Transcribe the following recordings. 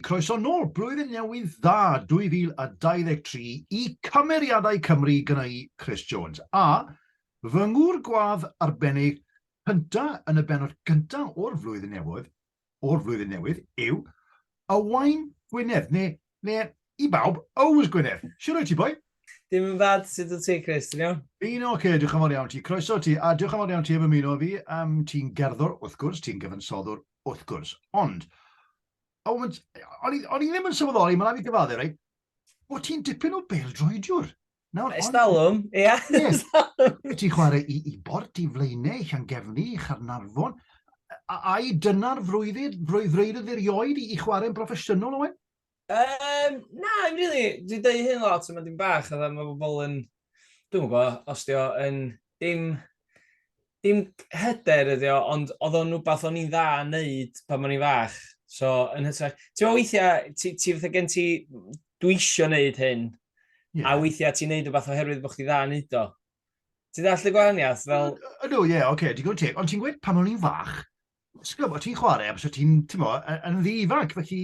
Croeso nôl, Blwyddyn Newydd Dda 2023 i Cymeriadau Cymru gynna i, Chris Jones, a fy ngŵr gwadd arbennig cynta yn y bennod gynta o'r Flwyddyn Newydd, o'r Flwyddyn Newydd, yw Owain Gwynedd, neu, neu i bawb, Ows Gwynedd. Siwr wyt ti, boi? Dim yn bad, sut wyt ti, Chris, ti'n iawn? Fi'n oce, okay, diolch yn fawr iawn ti, croeso ti, a diolch yn fawr iawn ti am ymuno fi, um, ti'n gerddor, wrth gwrs, ti'n gyfansoddwr, wrth gwrs, ond Oh, o'n i ddim yn sylweddoli, mae'n rhaid i gyfaddu, rei, bod ti'n dipyn o bel droediwr. Nawr, Estalwm, ia. Yes. Ti'n chwarae i, i bort, i flaenau, i Llangefni, i Charnarfon. Ai dyna'r frwyddyd, frwyddyd erioed i, i chwarae'n broffesiynol, Owen? Um, na, I'm really, dwi'n dweud hyn lot, mae'n dim bach, a mae bobl yn, dwi'n gwybod, os di o yn dim, dim hyder ydi o, ond oedd o'n rhywbeth o'n i'n dda yn neud pan o'n i'n fach. So, yn hytrach, ti'n meddwl weithiau, ti, ti fatha gen ti, dwi isio neud hyn, yeah. a weithiau ti'n neud rhywbeth oherwydd bod chdi dda yn neud o. Ti'n dall y gwahaniaeth? Fel... Ydw, ie, oce, digon teg. Ond ti'n gweud pan o'n i'n fach, Ti'n gwybod, ti'n chwarae, a bysio ti'n, ti'n mo, yn ddi ifanc, felly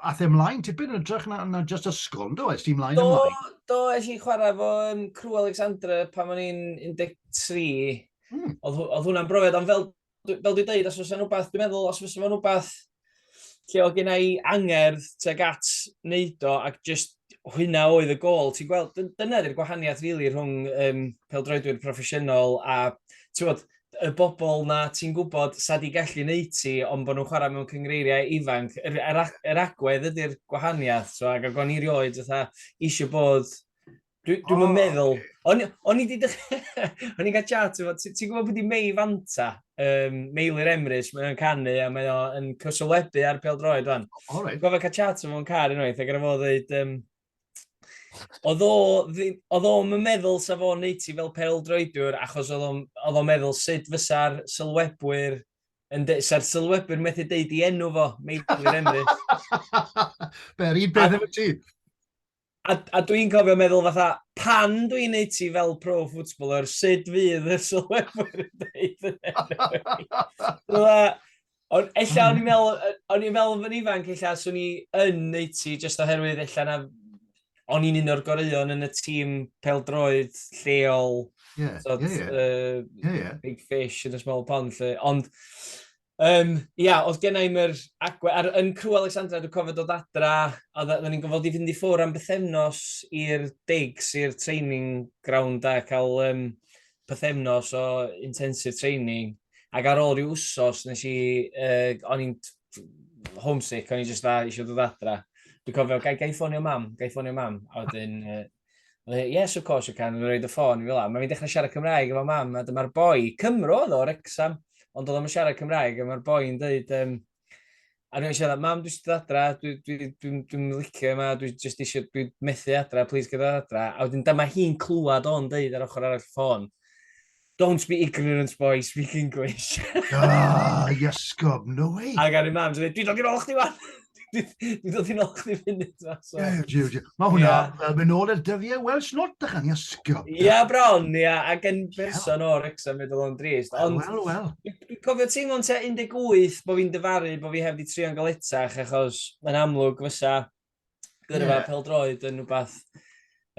ath e ymlaen tipyn yn ytrach na, na just ysgol, do, es ti'n ymlaen do, ymlaen? Do, es i'n chwarae fo um, Crew Alexandra pan o'n i'n 13. Hmm. Oedd, oedd hwnna'n brofiad, ond fel, fel dwi'n dweud, os fysa'n rhywbeth, dwi'n meddwl, os fysa'n rhywbeth lle oedd gen i angerdd teg at wneud o, ac just hwyna oedd y gol. Ti'n gweld, dyna ydy'r gwahaniaeth rili really, rhwng um, peldroedwyr proffesiynol a, ti'n gwybod, y bobl na ti'n gwybod sa di gallu neud ti, ond bod nhw'n chwarae mewn cyngreiriau ifanc. Yr, yr, yr agwedd ydy'r gwahaniaeth, so, ac o'n i rioed fatha eisiau bod... Dwi'n dwi oh, meddwl... Okay. O'n i wedi dechrau... o'n i'n cael chat efo... Ti'n gwybod beth i Mei Fanta? Um, Meilir Emrys, mae o'n canu a mae o'n cysylwebu ar pel droed fan. Oh, right. Gofod cael chat efo'n car unwaith, ac ar y fod dweud... Um, oedd o'n meddwl sa fo'n neud ti fel pel droediwr achos oedd o'n meddwl sut fysa'r sylwebwyr yn de, sa'r sylwebwyr methu deud i enw fo, Meilir Emrys. Be'r un beth efo ti. A, a dwi'n cofio meddwl fatha, pan dwi'n neud ti fel pro footballer, sut fydd y sylwebwyr yn deud yn enw i? Ond ella o'n i'n meddwl, o'n i'n meddwl yn ifanc, ella swn i yn neud ti, jyst oherwydd ella na o'n i'n un o'r goreuon yn y tîm peldroed lleol, yeah, sort, yeah, yeah. Uh, yeah, yeah. big fish in a small pond, lle. Ond, um, ia, oedd gen i'n yr agwedd, ar, yn Crew Alexandra, dwi'n cofio dod adra, a dda ni'n gofod i fynd i ffwr am bythefnos i'r digs, i'r training ground a cael um, pythefnos o intensive training, ac ar ôl rhyw wsos, nes i, uh, o'n i'n homesick, o'n i'n just dda, eisiau dod adra. Dwi'n cofio, gai, gai ffonio mam, gai ffonio mam, a wedyn, uh, yes, of course you can, yn rhaid y ffôn i fel am. Mae'n dechrau siarad Cymraeg efo mam, a dyma'r boi, Cymro oedd o, Rexham, ond oedd o'n siarad Cymraeg, a mae'r boi'n dweud, um, A dwi'n siarad, mam, dwi'n siarad adra, dwi'n dwi, dwi, dwi, dwi licio yma, dwi'n just eisiau, dwi'n methu adra, please gyda adra. A wedyn dyma hi'n clywed o'n dweud ar ochr arall ffôn, don't be ignorant boy, speak English. Ah, iasgob, no way. A gan i mam, dwi'n dweud, dwi'n dod i'n ôl chdi fan. Dwi'n dod i'n ôl chdi funud. Mae hwnna, fel mynd ôl i'r dyfiau Welsh not, da chan, iasgob. Ia, bron, ia, ac yn person o'r Wrexham, fe dod o'n drist. Wel, wel. Dwi'n cofio teimlo'n tua 18 bod fi'n dyfaru bod fi heb di trio'n galetach achos mae'n amlwg fysa gyrfa yeah. peldroed yn rhywbeth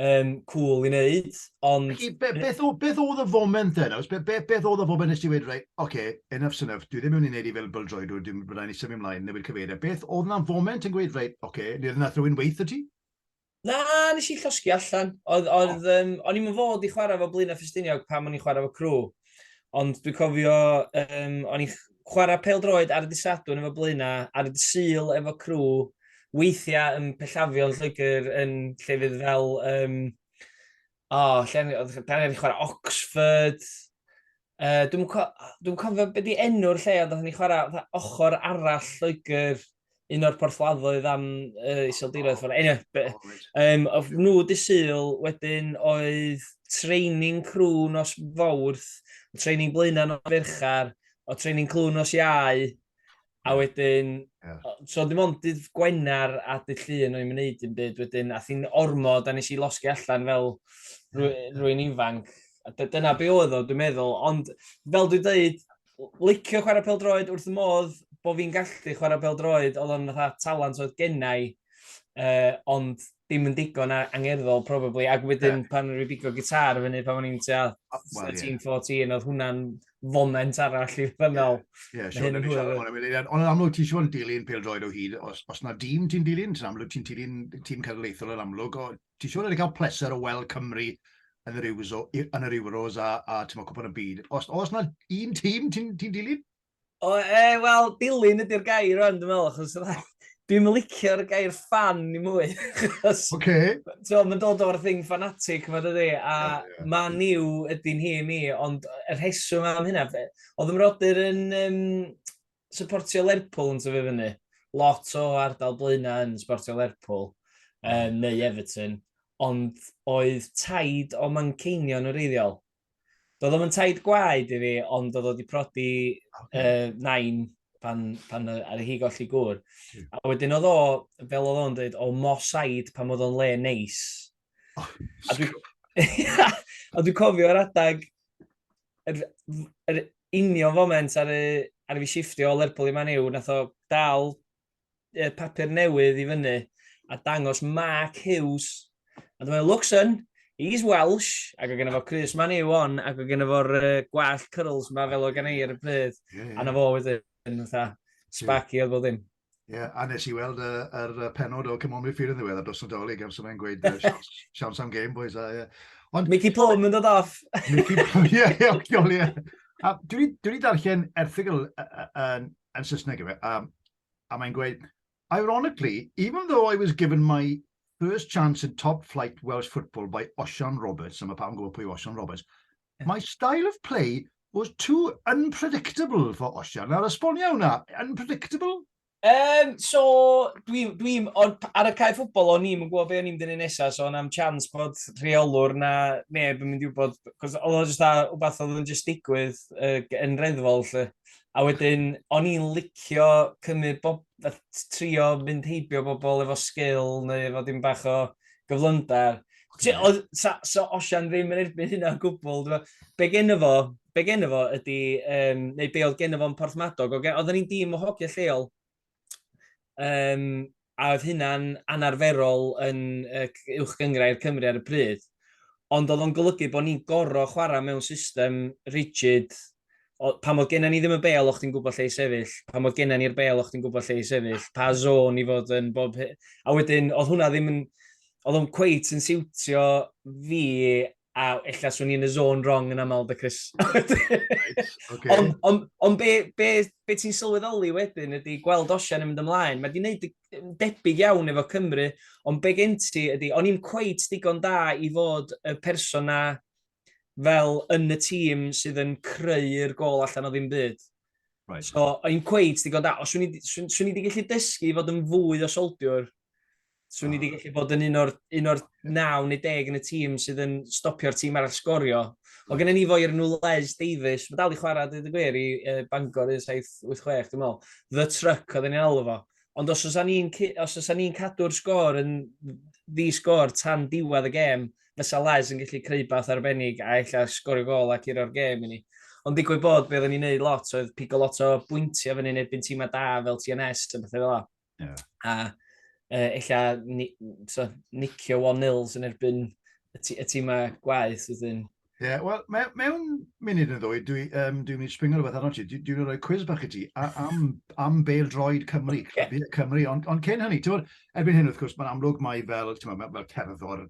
um, cool i wneud, ond... Felly, be, beth, o, beth oedd y foment yna? Be, be, beth oedd y foment nes ti wedi dweud, oce, okay, enough synough, dwi ddim yn mynd i wneud i fel byldroed, dwi ddim yn mynd i symud ymlaen, newid cyfeiriau. Beth oedd yna foment yn gweud, reit, oce, okay, neu oedd yna rhywun weith y ti? Na, nes i llosgi allan. Oedd, oedd, um, o'n i'n fod i chwarae fo Blaenau Ffestiniog pam o'n i'n chwarae fo Crw. Ond dwi'n cofio, um, o'n i'n chwarae pel droed ar y disadwn efo Blaenau, ar y disyl efo Crw, weithiau yn pellafion Lloegr yn lle fydd fel... Um, o, oh, lle, da ni'n chwarae Oxford, Uh, dwi'n co dwi cofio beth di enw'r lle, ond oeddwn ni chwarae ochr arall Lloegr, un o'r porthladdoedd am uh, iseldiroedd. Oh, anyway, oh, um, of nhw di syl, wedyn oedd training crew nos fawrth, training blaenau nos ferchar, o training crew nos iau, A wedyn, yeah. so dim ond dydd Gwener a dydd Llun o'n i'n mynd dim byd wedyn, a thi'n ormod a nes i losgi allan fel rwy'n ifanc. A dyna be oedd o, dwi'n meddwl. Ond fel dwi'n dweud, licio chwarae pel droed wrth y modd bod fi'n gallu chwarae pel droed, oedd o'n fatha talent oedd gennau, uh, ond dim yn digon angerddol, probably, ac wedyn yeah. pan rwy'n bigo gitar fyny pan o'n i'n tua oh, well, 13, yeah. 14, oedd hwnna'n foment arall i ddynol. Ie, yeah, siwr, ni'n siarad o'n amlwg. Ond amlwg ti'n siŵr yn dilyn peldroed o hyd, os, os na dîm ti'n dilyn, ti'n amlwg ti'n dilyn tîm cenedlaethol yn amlwg, o, ti'n siŵr yn cael pleser o weld Cymru yn yr, Euros, yn yr Euros a, a ti'n cwpan y byd. Os, os na un tîm ti'n ti dilyn? O, e, wel, dilyn ydy'r gair rwan, dwi'n meddwl, achos dwi'n licio'r gair fan i mwy. achos, Oce. So, mae'n dod o'r thing fanatic yma dydy, a yeah, yeah. man yw ydy'n hi i mi, ond y rheswm am hynna, fe, oedd ymrodyr yn um, supportio Lerpwl yn tyfu fyny. Lot o ardal blaenau yn supportio Lerpwl, um, neu Everton, ond oedd taid o Manceinion yn reiddiol. Doedd o'm yn taid gwaed i fi, ond oedd o wedi prodi okay. uh, nain pan, pan ar hi golli gŵr. Hmm. A wedyn oedd o, fel oedd o'n dweud, o mosaid pan oedd o'n le neis. Oh, a dwi'n dwi cofio ar adag yr, yr union foment ar y, ar y fi shiftio o Lerpwl i Maniw, nath o dal uh, papur newydd i fyny a dangos Mark Hughes. A dyma looks yn, he's Welsh, ac o gen fo Chris Man yw on, ac o gen fo'r uh, gwall curls ma fel o gen i ar y pryd. Yeah, yeah. A na fo wedyn, fatha, sparky yeah. oedd bod ddim. Ie, yeah, a nes i weld y, uh, er penod o Cymru Midfield yn ddiwedd a dos y dolyg am sy'n mynd gweud uh, siawns am game, boys. A, yeah. Ond... Mickey Plum yn dod off. Mickey Plum, ie, ie, ie. A dwi wedi darllen erthigol yn yn Saesneg efe, a, a mae'n gweud, Ironically, even though I was given my first chance in top flight Welsh football by Osian Roberts, a mae pawb yn gwybod pwy Osian Roberts, yeah. my style of play was too unpredictable for Osian. Nawr, esbonio hwnna, unpredictable? Um, so, dwi'n, dwi, ar y cae ffwbol, o'n i'n gwybod be o'n i'n dynnu nesaf, so o'n am chance bod rheolwr na neb yn mynd i wybod, cos oedd o'n jyst a, wbeth oedd yn jyst digwydd uh, yn reddfol, lle. A wedyn, o'n i'n licio cymryd bob, trio mynd heibio bobl efo sgil neu efo dim bach o gyflymdar. So Osian ddim yn erbyn hynna o gwbl. Be gen fo, be gen fo ydy, um, neu be oedd gen fo'n porthmadog, okay? oedden ni'n dîm o hogia lleol, Um, a oedd hynna'n anarferol yn uwch gyngrau i'r Cymru ar y pryd. Ond oedd o'n golygu bod ni'n gorau chwarae mewn system rigid. O, pa mod gennym ni ddim y bel, o'ch ti'n gwybod lle i sefyll. Pa mod gennym ni'r bel, o'ch ti'n gwybod lle i sefyll. Pa zôn i fod yn bob... A wedyn, oedd hwnna ddim yn oedd o'n cweit yn siwtio fi a illa swn i'n y zone wrong yn aml, da Chris. right, okay. Ond on, on be, be, be ti'n sylweddoli wedyn ydy gweld Osian yn mynd ymlaen. Mae di wneud debyg iawn efo Cymru, ond be gen ti ydy, o'n i'n cweit digon da i fod y person na fel yn y tîm sydd yn creu'r gol allan o ddim byd. Right. So, o'n i'n cweit digon da. Os swn i wedi gallu dysgu i fod yn fwy o soldiwr, Swn i wedi gallu bod yn un o'r, un o'r naw neu deg yn y tîm sydd yn stopio'r tîm arall sgorio. O gen ni fo i'r Nulez Davies, mae dal i chwarae dweud y gwir i uh, Bangor 1786, dwi'n meddwl. The Truck oedd yn alw fo. Ond os oes ni'n os oes ni'n cadw'r sgôr yn ddi sgôr tan diwedd y gêm, fysa Les yn gallu creu bath arbennig a ella sgorio gol ac i'r o'r gêm i ni. Ond digwydd bod, be oedden ni'n neud lot oedd pigo lot o bwyntiau fyny yn erbyn tîmau da fel TNS a bethau fel yna. Yeah. A uh, ella ni, so, nicio 1-0 yn erbyn y, y tîmau gwaith wedyn. Ie, yeah, wel, me, mewn munud yn ddwy, dwi'n um, dwi mynd i springo rhywbeth arno ti, dwi'n dwi rhoi cwiz bach i ti am, am bel droed Cymru, okay. Cymru, ond on cyn hynny, ti'n bod, erbyn hyn wrth gwrs, mae'n amlwg mai fel, ti'n bod, fel cerddor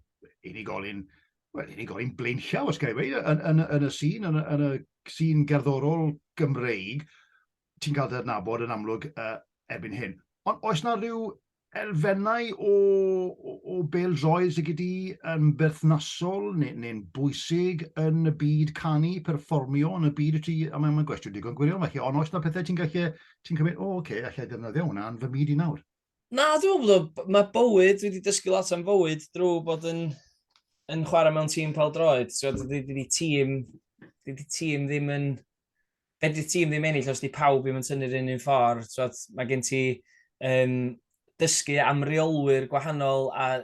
unigolyn, wel, unigolyn blaenllaw, os gael ei yn, yn, yn, y sîn, yn, yn y sîn gerddorol Gymreig, ti'n cael dy adnabod yn amlwg uh, erbyn hyn. Ond oes na rhyw elfennau o, o, o bel droed sydd gyda yn berthnasol neu'n neu bwysig yn y byd canu, perfformio yn y byd y ti, a mae'n gwestiwn digon gwirion felly, ond oes na pethau ti'n gallu, ti'n cymryd, o, oh, oce, okay, allai ddefnyddio hwnna yn fy myd i nawr? Na, dwi'n meddwl bod mae bywyd, wedi dysgu lot am fywyd drwy bod yn, yn chwarae mewn tîm pel droed. So, dydy, dydy tîm, dydy tîm ddim yn fedri tîm ddim ennill os di pawb ddim yn tynnu'r un un ffordd, twod, mae gen ti um, dysgu am reolwyr gwahanol, a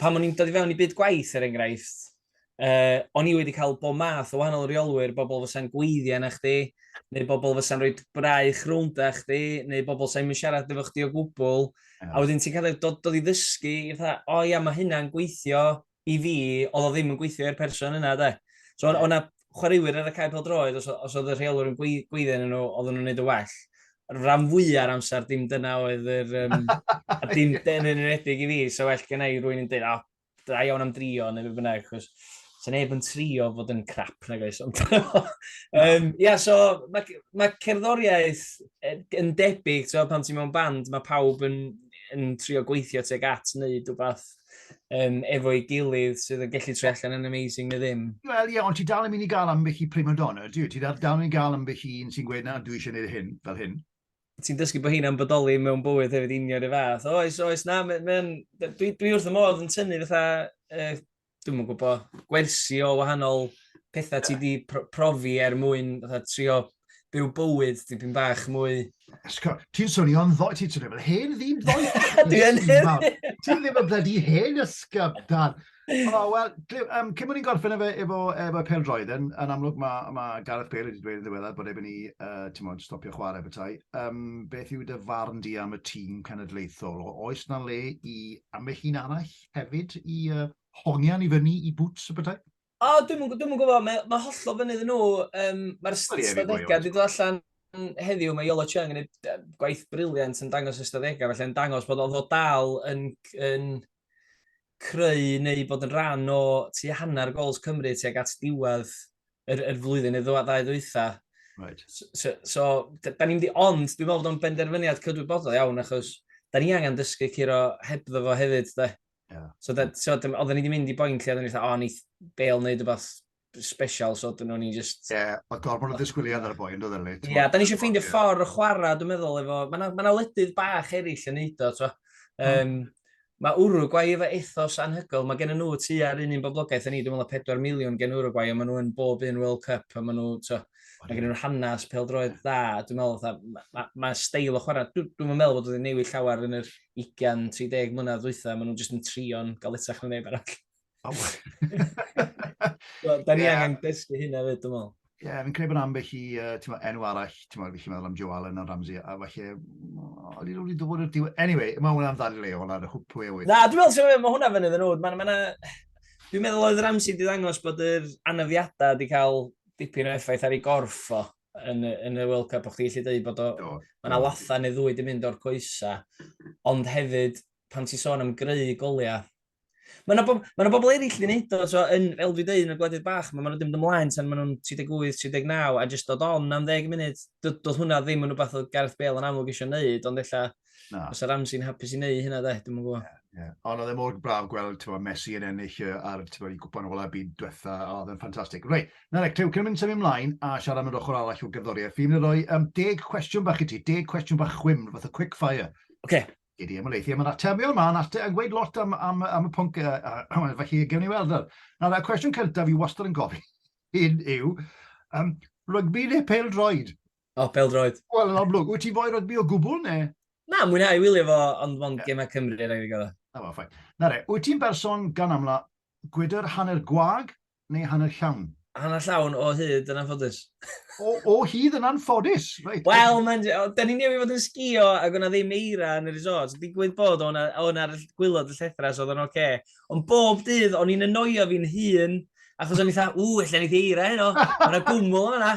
pan o'n i'n dod i fewn i byd gwaith, er enghraifft, uh, o'n i wedi cael bod math o wahanol reolwyr, bobl fysa'n gweithio na chdi, neu bobl fysa'n rhoi braich rownd a chdi, neu bobl sy'n mynd siarad efo chdi o gwbl, yeah. a wedyn ti'n cael dod, dod i ddysgu, i fatha, o oh, ia, mae hynna'n gweithio, i fi, oedd o ddim yn gweithio i'r person yna, de. So, yeah. o'na chwaraewyr ar y cae peldroed, os, os oedd y rheolwr yn gweithio yn nhw, oedd nhw'n gwneud y well. Rhan fwy ar amser, dim dyna oedd yr... Um, a dim dyna yn enwedig i fi, so well gen i rwy'n yn dweud, oh, da iawn am drio, neu beth bynnag, chos sy'n neb yn trio fod yn crap na gais. Ond, um, yeah, so, mae ma cerddoriaeth yn debyg, so, pan ti'n mewn band, mae pawb yn yn trio gweithio teg at wneud rhywbeth um, efo'i gilydd sydd yn gallu troi allan yn amazing neu ddim. Wel, ie, yeah, ond ti dal yn mynd i gael ambell i prima donna, dwi? Ti dal, dal yn mynd i gael ambell i un sy'n gweud na, dwi eisiau gwneud hyn, fel hyn. Ti'n dysgu bod hyn am bodoli mewn bywyd hefyd union y fath. Oes, oes, na, me, me, dwi, dwi wrth y modd yn tynnu fatha, uh, dwi'n mwyn gwybod, gwersi o wahanol pethau ti di profi er mwyn fatha, trio byw bywyd dipyn bach mwy... Ti'n swnio'n ddoe, ti'n swnio fel hen ddim ddoe. Dwi yn hen. Ti'n ddim yn blydi hen ysgaf, dan. O, wel, um, cyn bod ni'n gorffen efo, efo, efo pel droed, yn, yn amlwg mae ma Gareth Bale wedi dweud yn ddiweddar bod efo'n ni, uh, ti'n modd, stopio chwarae bethau. Um, beth yw dy farn di am y tîm cenedlaethol? O, oes na le i am y hun arall hefyd i uh, hongian i fyny i bwts y bethau? O, dwi'm yn dwi'm yn gwybod, mae mae hollol fyny iddyn nhw. Um, Mae'r Wel, ie, fi'n ystadegau gwybod. wedi dod allan heddiw, mae Yolo Chung yn gwneud yy, gwaith briliant yn dangos ystadegau, felly yn dangos bod oedd o dal yn, yn creu neu bod yn rhan o tu hanner gols Cymru tuag at diwedd yr, yr flwyddyn neu ddwa- ddau ddwytha. Right. So, so, so d- da ni'n di ond, dwi'n meddwl bod o'n benderfyniad cydwybodol iawn, achos da ni angen dysgu curo hebddo fo hefyd, da. Yeah. So, da, so oedden ni wedi mynd i boi'n lle, oedden ni wedi, o, ni bel wneud rhywbeth special, so oedden nhw'n ni just... Ie, yeah, oedd gorfod o ddisgwyliad ar y boi'n dod ni. Ie, yeah, da ni eisiau ffeindio yeah. ffordd o chwarae, dwi'n meddwl, efo... Mae yna ma ledydd bach eraill yn neud o, twa. Um, mae Uruguay efo ethos anhygol, mae gen nhw tu ar un un boblogaeth yn ni, dwi'n meddwl 4 miliwn gen Uruguay, a maen nhw'n bob un World Cup, a maen nhw, twa, Mae gen nhw'r hanes peldroed dda. Dwi'n meddwl, fatha, mae ma, ma steil o chwarae. Dwi'n dwi meddwl bod wedi newid llawer yn yr 20-30 mlynedd ddwytha. Maen nhw'n jyst yn trio'n galetach na neb arall. Oh. da ni yeah. angen dysgu hynna fyd, dwi'n meddwl. Ie, yeah, fi'n credu bod ambell i uh, enw arall, ti'n meddwl, fi'n meddwl am Joe Allen a Ramsey, a falle, o'n i'n wedi dod i'r diwy... Anyway, mae hwnna'n ddal i leol ar y hwp pwy e Na, dwi'n meddwl, mae hwnna fyny ddyn nhw. Dwi'n meddwl oedd Ramsey wedi ddangos bod yr anafiadau wedi cael dipyn o effaith ar ei gorff o yn, yn y World Cup, o'ch ti'n gallu dweud bod o... Mae yna latha neu ddwy di mynd o'r coesa, ond hefyd, pan ti'n sôn am greu goliau, Mae yna bob, ma bobl eraill wedi gwneud o, so, yn, fel dwi'n dweud, yn y gwledydd bach, mae nhw'n mynd ymlaen tan maen nhw'n 38, 39, a jyst dod on am 10 munud, doedd hwnna ddim yn rhywbeth oedd Gareth Bale yn amlwg eisiau gwneud, ond efallai Na. Os ar amsi'n hapus i wneud hynna, de, dwi'n gwybod. Yeah, yeah. Ond oedd e mor braf gweld tywa, Messi yn ennill ar tywa, i gwpan ola byd diwetha, a oedd e'n ffantastig. Rei, na rei, clyw, cyn mynd symud ymlaen a siarad am yr ochr arall o gerddoriaeth, fi'n mynd roi um, deg cwestiwn bach i ti, deg cwestiwn bach chwim, fath o quick fire. Oce. Okay. Gedi ymwneud i am yr atebion yma, yn ate, yn gweud lot am, am, am y pwnc, uh, uh, felly gewn ni weld ar. Nawr, y cwestiwn cyntaf i wastad yn gofyn hyn yw, um, rygbi neu pel droed? O, peldroed. Wel, yn amlwg, wyt ti'n fwy rygbi o gwbl, ne? Na, mwynhau wylio fo, ond mond yeah. gemau Cymru, rhaid i gyda. Na fo, ffain. Na re, wyt ti'n berson gan amla gwydr hanner gwag neu hanner llawn? Hanner llawn o hyd yn anffodus. o, o hyd yn anffodus? Right. Wel, da ni'n newid fod yn sgio ac o'na ddim eira yn y resort. Digwydd bod o'na, o'na gwylod y llethras oedd o'n oce. Okay. Ond bob dydd, o'n i'n anoio fi'n hun, achos o'n i'n dda, ww, allan i eira heno, o'na gwmwl o'na.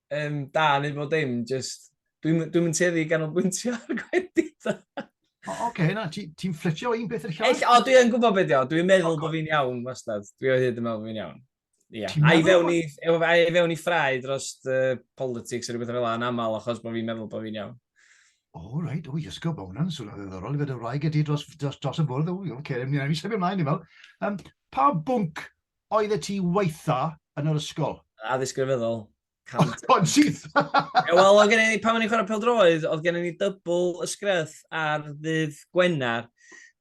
um, da neu bod dim, just... Dwi'n dwi mynd teddi ganolbwyntio ar gwendid. o, oce, okay, na, ti'n ti fflitio un peth i'r llall? Ell, o, dwi'n gwybod beth yw, dwi'n meddwl okay. bod fi'n iawn, wastad. Dwi o hyd yn meddwl bod fi'n iawn. Yeah. A i fewn i, a i fewn i ffrau dros uh, politics a rhywbeth fel yna, yn aml achos bod fi'n meddwl bod fi'n iawn. O, oh, reit, o, iasgo, bod hwnna'n swnio ddiddorol i fod y wraig ydi dros, dros, dros y bwrdd, o, oce, okay, ni'n ei sefyll ymlaen i fel. Um, pa bwnc Oeddet ti waetha yn yr ysgol? Addysg grefyddol. Cam... O'n syth! Ie, wel, oedd gen i, pan o'n i'n chwarae peldroed, oedd gen i ni dybl ysgreth ar ddydd Gwener.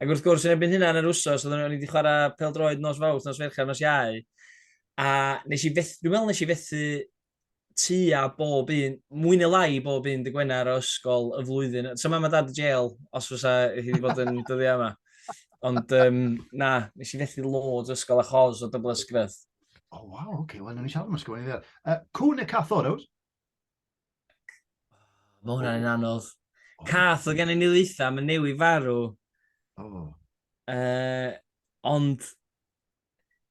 Ac wrth gwrs, yn ebyn hynna yn yr wsos, oedd o'n i wedi chwarae peldroed nos fawrth, nos ferchar, nos iau. A nes i fethu, dwi'n meddwl nes i fethu tua bob un, mwy neu lai bob un dy Gwener o ysgol y flwyddyn. So mam a dad y jail, os fysa hi wedi bod yn dyddiau yma. Ond um, na, nes i fethu loads o ysgol a chos o dybl ysgrif. O, oh, waw, oce, okay. wel, nhw'n i siarad am ysgol yn ddiad. Uh, cwn y cath o'r awr? Mae hwnna'n yn anodd. Oh. Cath o gen i ni ddeitha, mae newi farw. Oh. Uh, ond,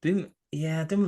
dwi'n, ie, yeah, dwi'n,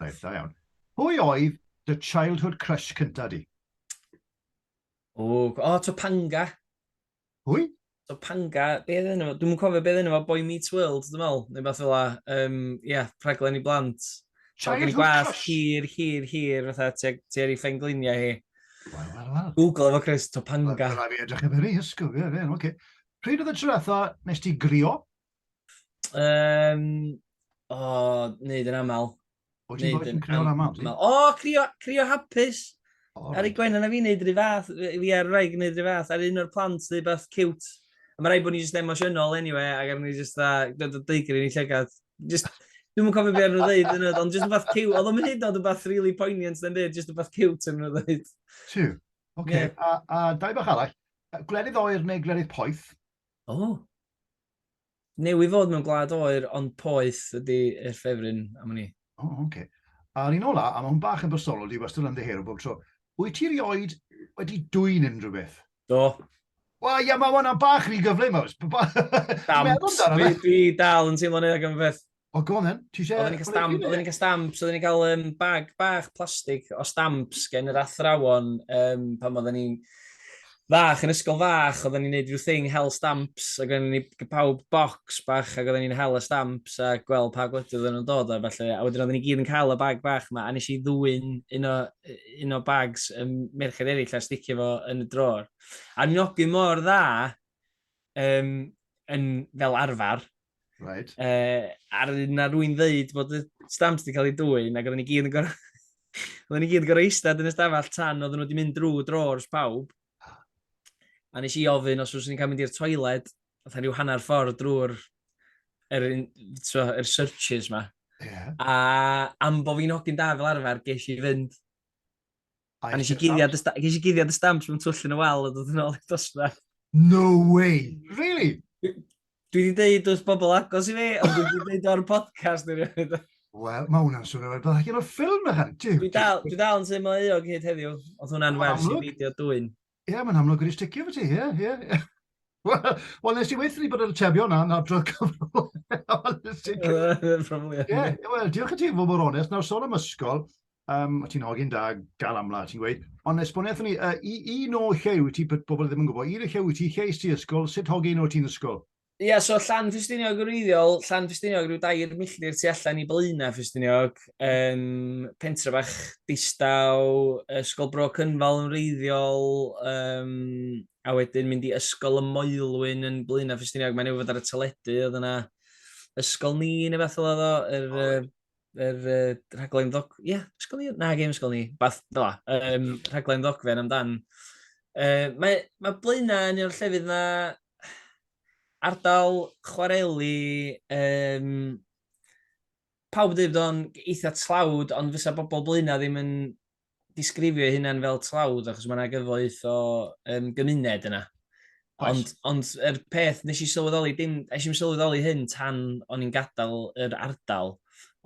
Reit, da iawn. Pwy oedd dy childhood crush cynta di? O, o Topanga. Hwy? Topanga, be ddyn nhw? Dwi'n cofio be ddyn nhw, Boy Meets World, dwi'n meddwl, neu beth fel la. Um, yeah, rhaglen i blant. Childhood gwas, crush? Hir, hir, hir, fatha, ti ar ei ffengliniau hi. Wel, wel, wel. Google efo Chris, Topanga. Wel, fi edrych efo ni, ysgwyl, ie, ie, oce. Pryd oedd y tro nes ti grio? Um, o, oh, neud yn aml. O, ti'n bod yn crio yn aml? O, oh, crio, crio hapus. Oh, ar ei gwenan a fi wneud rhy fath, fi ar rhaid gwneud rhy fath, ar un o'r plant neu beth cute. A mae rhaid bod ni just emosiynol anyway, ac ar ni just a, dod o deigr i ni llygad. Just, dwi'n mwyn cofio beth nhw'n dweud yn ydw, ond just rhywbeth cute, oedd o'n hyd oedd rhywbeth really poignant yn dweud, just rhywbeth cute yn ydw dweud. Tiw, oce, a, a dau bach arall, glerydd oer neu glerydd poeth? O. Oh. Newydd fod mewn gwlad oer ond poeth ydy yr ffefryn am wn i. O, oh, oce. Okay. A'r un ola, a mae hwn bach yn bersonol, dwi wastad yn ddiheuro bob tro. Wyt ti rioed wedi dwyn unrhyw beth? Do. Wel, ia, mae hwnna bach rhy gyflym, oes. Dams, dwi dal yn teimlo'n eog am y peth. O, go on then. Ti eisiau... Oedden ni'n cael stamp, oedden ni'n cael stamps, oedden ni'n cael um, bag bach plastig o stamps gen yr athrawon um, pan oedden ni'n fach yn ysgol fach, oedden ni'n neud rhyw thing hel stamps, ac oedden ni'n pawb box bach ac oedden ni'n hel y stamps a gweld pa gwledydd oedden nhw'n dod a falle. A wedyn oedden ni gyd yn cael y bag bach yma a nes i ddwy'n un o, un o bags um, merched eraill a sticio fo yn y dror. A ni'n ogyn mor dda um, yn, fel arfer. Right. Uh, ar yna rwy'n ddeud bod y stamps wedi cael ei dwy'n, ac oedden ni gyd yn gorau... oedden ni gyd yn gorau eistedd yn ystafell tan oedden nhw wedi mynd drwy drawers pawb. A nes i ofyn os oes ni'n cael mynd i'r toiled, oedd rhyw hanner ffordd drwy'r er, so, er searches ma. Yeah. A am bod fi'n hogyn da fel arfer, ges i fynd. A nes i guddio dy stamp, nes i guddio dy stamp mewn twll yn y wal a dod yn ôl i'r dosbarth. No way! Really? Dwi wedi dweud wrth bobl agos i fi, ond dwi wedi dweud o'r podcast i fi. Wel, mae hwnna'n swnio fel bod allan o'r ffilm ychan. Dwi dal, dwi dal yn teimlo eog hyd heddiw, oedd hwnna'n wers i beidio dwy'n. Ie, mae'n amlwg wedi sticio efo ti, ie, ie. Wel, nes i weithio ni bod yn y tefio na, na drodd cyfrol. Ie, wel, diolch i ti fod mor onest. Nawr, sôn am ysgol, um, ti'n hogyn da, gal amla, ti'n gweud, ond esboniaeth ni, uh, un o llew ti, bobl ddim yn gwybod, un o llew ti, lleis ti ysgol, sut hogyn o ti'n ysgol? Ia, so Llan Ffestiniog yn wreiddiol, Llan Ffestiniog rhyw dair milltir tu allan i Blaenau Ffestiniog, um, pentre bach distaw, Ysgol Bro Cynfal yn wreiddiol, um, a wedyn mynd i Ysgol y Moelwyn yn Blaenau Ffestiniog, mae'n ei fod ar y teledu, oedd yna ysgol ni neu beth oedd o, yr, oh. er, er, er, rhaglen ddog... Ie, yeah, ysgol ni? Na, gem ysgol ni. Bath, no, um, rhaglen ddogfen amdan. Uh, mae, mae Blaenau yn un o'r llefydd yna ardal chwareli, yym, pawb yn dweud bod o'n eitha tlawd, ond fysa bobl Blaenau ddim yn disgrifio eu hunain fel tlawd, achos mae yna gyfoeth o um, gymuned yna. Ond, ond yr er peth nes i sylweddoli, dim, eisiau i'n sylweddoli hyn tan o'n i'n gadael yr ardal,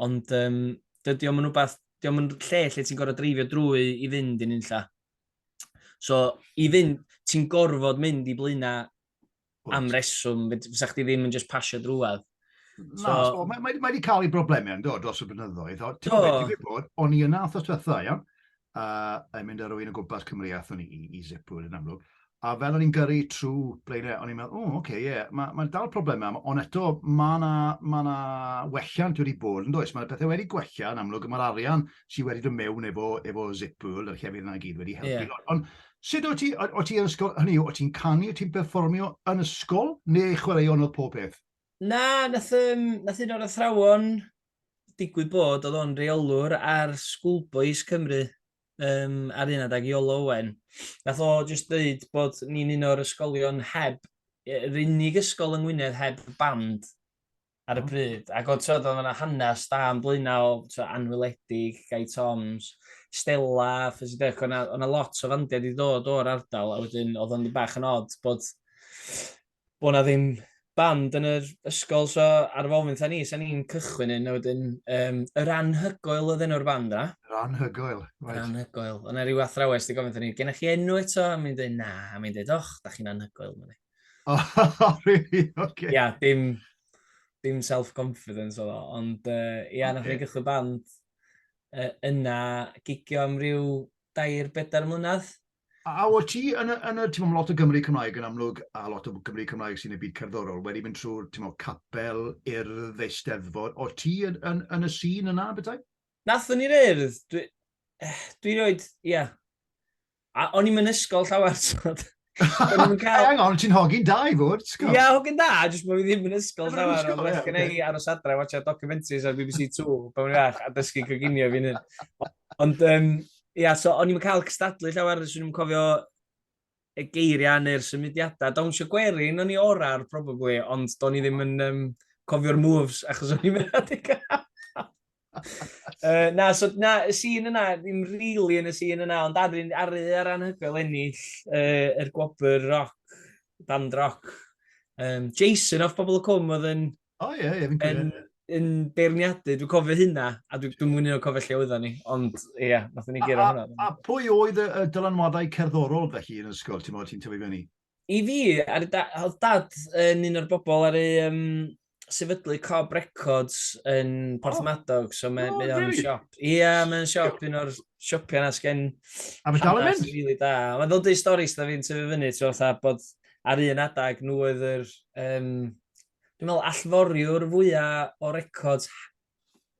ond um, dydy o'n rhywbeth, dydy o'n lle lle ti'n gorau dreifio drwy i fynd i'n unlla. So, i fynd, ti'n gorfod mynd i blaenau am reswm, fysa chdi ddim yn just pasio drwad. So, Na, so, mae, mae, mae wedi cael ei broblemau yn dod dros y blynyddoedd. O, ti'n gwybod, ti'n gwybod, o'n i yna wrthos diwetha, iawn? A, a mynd ar rwy'n o gwmpas Cymru a thwn i i, i Zipwood yn amlwg. A fel o'n i'n gyrru trwy blaenau, o'n i'n meddwl, o, oh, oce, okay, ie, yeah, mae'n ma dal problemau, ond eto mae yna ma welliant wedi bod yn does. Mae yna pethau wedi gwella yn amlwg, mae'r arian sydd wedi dod mewn efo, efo Zippool, y llefydd yna gyd wedi helpu. Yeah. Ond sut o ti, o ti yn ysgol, hynny yw, o ti'n canu, o ti'n performio yn ysgol, neu chwaraeon oedd pob peth? Na, nath, um, nath un o'r athrawon digwydd bod, oedd o'n reolwr ar Schoolboys Cymru, um, ar un adag Iolo Owen. Nath o jyst dweud bod ni'n un o'r ysgolion heb, yr unig ysgol yng Ngwynedd heb band. ar y hmm. pryd. Ac oedd tywed, oedd yna hanes da yn blaenau o anwyledig, Gai Toms, Stella, ffes i dech, oedd yna lot o fandiau wedi dod o'r ardal, a wedyn oedd o'n bach yn od bod, bod yna ddim band yn yr ysgol, so ar ôl mynd ni, sa'n ni'n cychwyn yn, a wedyn, um, yr anhygoel oedd enw'r band yna. Yr anhygoel, right. Yr anhygoel. Ond rhyw athrawes, di gofyn ni, gennych chi enw eto? A mi'n dweud, na, a mi'n dweud, och, da chi'n anhygoel, mae'n Oh, really? Okay. Ia, dim, dim self-confidence oedd o, ond uh, ia, okay. nath ni gychwyn band uh, yna gigio am ryw dair bedair mlynedd. A o ti, yn y, yn y ti'n meddwl, lot o Gymru Cymraeg yn amlwg, a lot o Gymru Cymraeg sy'n y byd cerddorol, wedi mynd trwy'r, ti'n meddwl, capel i'r ddeisteddfod. O ti yn, yn, yn y sîn yna, bethau? Nathon ni'r urdd, dwi, eh, dwi roed, ia. Yeah. A o'n i'n ysgol llawer, so... Cael... Hang on, ti'n hogyn da i fod, sgol. Ia, hogyn da, jyst bod fi ddim yn ysgol llawer, ond well gen i aros adra, watcha documentaries ar BBC 2, pan o'n iach, a dysgu coginio fi'n hyn. Ond, um, ia, so o'n i'n cael cystadlu llawer, swn i'n cofio y geiriau neu'r symudiadau. Dawnsio gwerin o'n i orau'r probably, ond do'n i ddim yn um, cofio'r moves achos o'n i'n mynd adeg uh, na, so, na, y sîn yna, ddim rili really yn y sîn yna, ond ar, ar, ar anhygoel ennill uh, yr gwobr roc, band roc. Um, Jason off Bobl y Cwm oedd yn O oh, ie, yeah, ie, yeah, fi'n cofio. Yn, yn beirniadu, dwi'n cofio hynna, a dwi'n dwi mwyn un o'n cofio lle oedden ni, ond ie, yeah, nath ni gyrra hwnna. A, a pwy oedd y, y dylanwadau cerddorol felly yn ysgol, ti'n modd ti'n tyfu fyny? I fi, ar da, oedd dad yn un o'r bobl ar ei um, sefydlu Cob Records yn Porthmadog, oh. so mae'n oh, really? siop. Ie, yeah, mae'n siop, un o'r siopiau na sgen... A fe dal yn mynd? Really da. Mae'n ddod i storis da fi'n tyfu fyny, ti'n fatha bod ar un adag nhw oedd yr um, dwi'n meddwl, allforiwr fwyaf o records,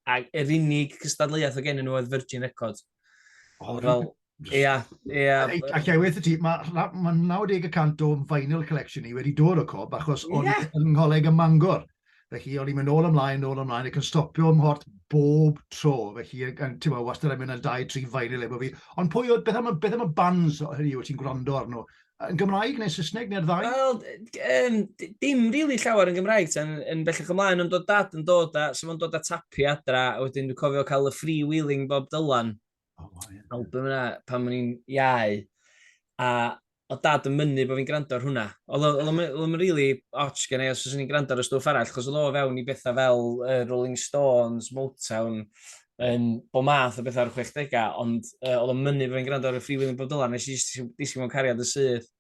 a yr unig cystadleuaeth o gennyn nhw oedd Virgin Records. Oh, fel, ia, ia. Ac i weithio ti, mae ma 90% o'n vinyl collection ni wedi dod o cob, achos o'n yeah. yng ngholeg y Mangor. Felly, o'n i'n mynd ôl ymlaen, ôl ymlaen, ac yn stopio ym mhort bob tro. Felly, yn, ti'n meddwl, wastad yn mynd yn dau, tri fain i lebo fi. Ond pwy oedd, beth am, beth am y bands hynny yw ti'n gwrando arno? Yn Gymraeg neu Saesneg neu'r ddau? Wel, um, dim rili really llawer yn Gymraeg tan yn bellach ymlaen, ond oedd dad yn dod a, so fo'n dod a tapi adra, a wedyn dwi'n cofio cael y free wheeling Bob Dylan. Oh, wow, yeah. Album yna, pan o'n i'n iau. A o dad yn mynnu bod fi'n gwrando ar hwnna. Oedd o'n rili otch gen i os o'n i'n gwrando ar y stwff arall, chos oedd o fewn i bethau fel uh, Rolling Stones, Motown, yn bod math o bethau ar y 60au, ond uh, oedd o'n mynnu bod fi'n gwrando ar y Free William Bob Dylan, nes i disgyn mewn cariad y syth,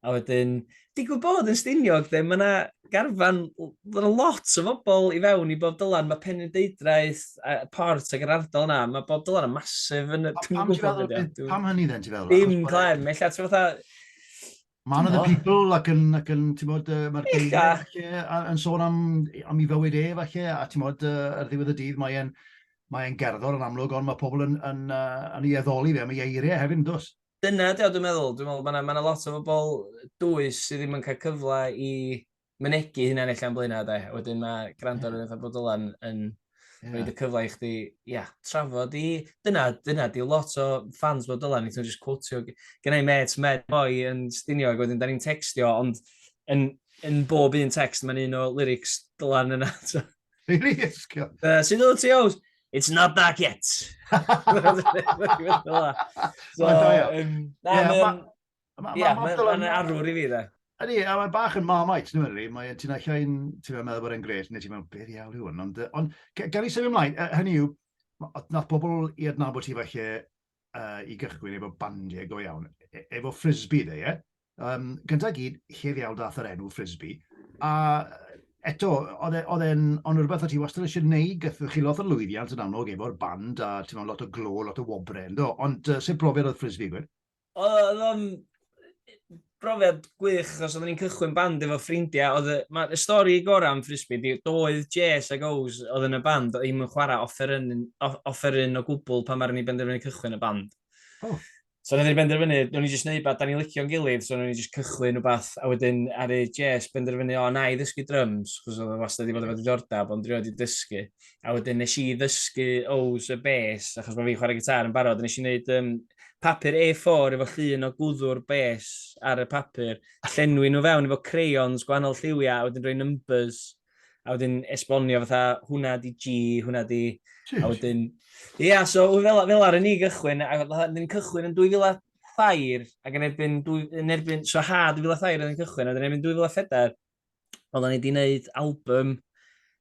a wedyn, digwydd bod yn stiniog, de, mae yna garfan, mae yna lot o bobl i fewn i Bob Dylan, mae Penrhyn Deidraeth, a Port ac yr ardal yna, mae Bob Dylan yn masif yn y... Pam, pam, pam hynny dden, ti feddwl? Dim, Clem, eich ti'n fatha Man of the people ac yn, ac yn ti'n bod, uh, mae'r geiriau yn sôn am, am i fywyd e, falle, a ti'n bod, uh, ar ddiwedd y dydd, mae'n mae gerddor yn amlwg, ond mae pobl yn, yn, uh, yn ei addoli fe, mae eiriau hefyd yn dwys. Dyna, dwi'n meddwl, dwi'n meddwl, mae yna ma lot o bobl dwys sydd ddim yn cael cyfle i mynegu hynna yn eich am blaenau, de. Wedyn mae gwrando ar rhywbeth a bod Dylan yn yeah. rhoi y cyfle i chdi, ia, yeah, trafod i... Dyna, dyna, di lot o fans bod Dylan, ti'n just quotio. Gynnau met, met boi yn stinio, ac wedyn da ni'n textio, ond yn, yn bob un text mae'n un o lyrics Dylan yna. Really? Ysgio. Uh, Sy'n dod ti oes? It's not dark yet. so, um, na, yeah, Ie, mae'n arwr i fi dde. Ydy, a mae bach yn marmite, nhw'n rhi, mae ti'n eich ein, ti'n meddwl bod e'n gret, neu ti'n meddwl, beth iawn yw hwn, ond, ond gan i sefyd ymlaen, hynny yw, nath pobl i adnabod ti falle uh, i gychwyn efo bandiau go iawn, e, efo frisbee dde, ie? Um, gyntaf gyd, llef iawn dath yr enw frisbee, a eto, oedd e, e'n ond rhywbeth o ti wastad eisiau gwneud, gyda chi lot o lwyddiant yn amlwg efo'r band, a ti'n meddwl lot o glo, lot o wobre, ynddo, ond uh, sut brofiad oedd frisbee, gwir? Oedd o'n brofiad gwych, achos oedden ni'n cychwyn band efo ffrindiau. Oedd y, ma, y stori gorau am Frisbee di, doedd Jess ac Ows oedd yn y band, oedd hi'n chwarae offeryn, offeryn o gwbl pan mae'r ni benderfynu cychwyn y band. Oh. So roedd ni'n benderfynu, roedd ni'n just neud beth, da ni'n licio'n gilydd, so roedd ni'n just cychwyn o beth, a wedyn ar ei Jess benderfynu, o, na i ddysgu drums, chos oedd o wastad wedi bod efo diddordeb, ond rioed wedi dysgu. a wedyn nes i ddysgu O's a Bes, achos mae fi'n chwarae gitar yn barod, nes i wneud um, papur A4 efo llun o gwddw'r bes ar y papur, a llenwi nhw fewn efo crayons gwahanol lliwiau, a wedyn rhoi numbers, a wedyn esbonio fatha hwnna di G, hwnna di... A wedyn... Ie, yeah, so fel, fel ar y ni gychwyn, a wedyn cychwyn yn 2000 thair, ac yn erbyn, yn erbyn, so ha 2000 thair yn cychwyn, a wedyn erbyn 2004, oedden ni wedi gwneud album,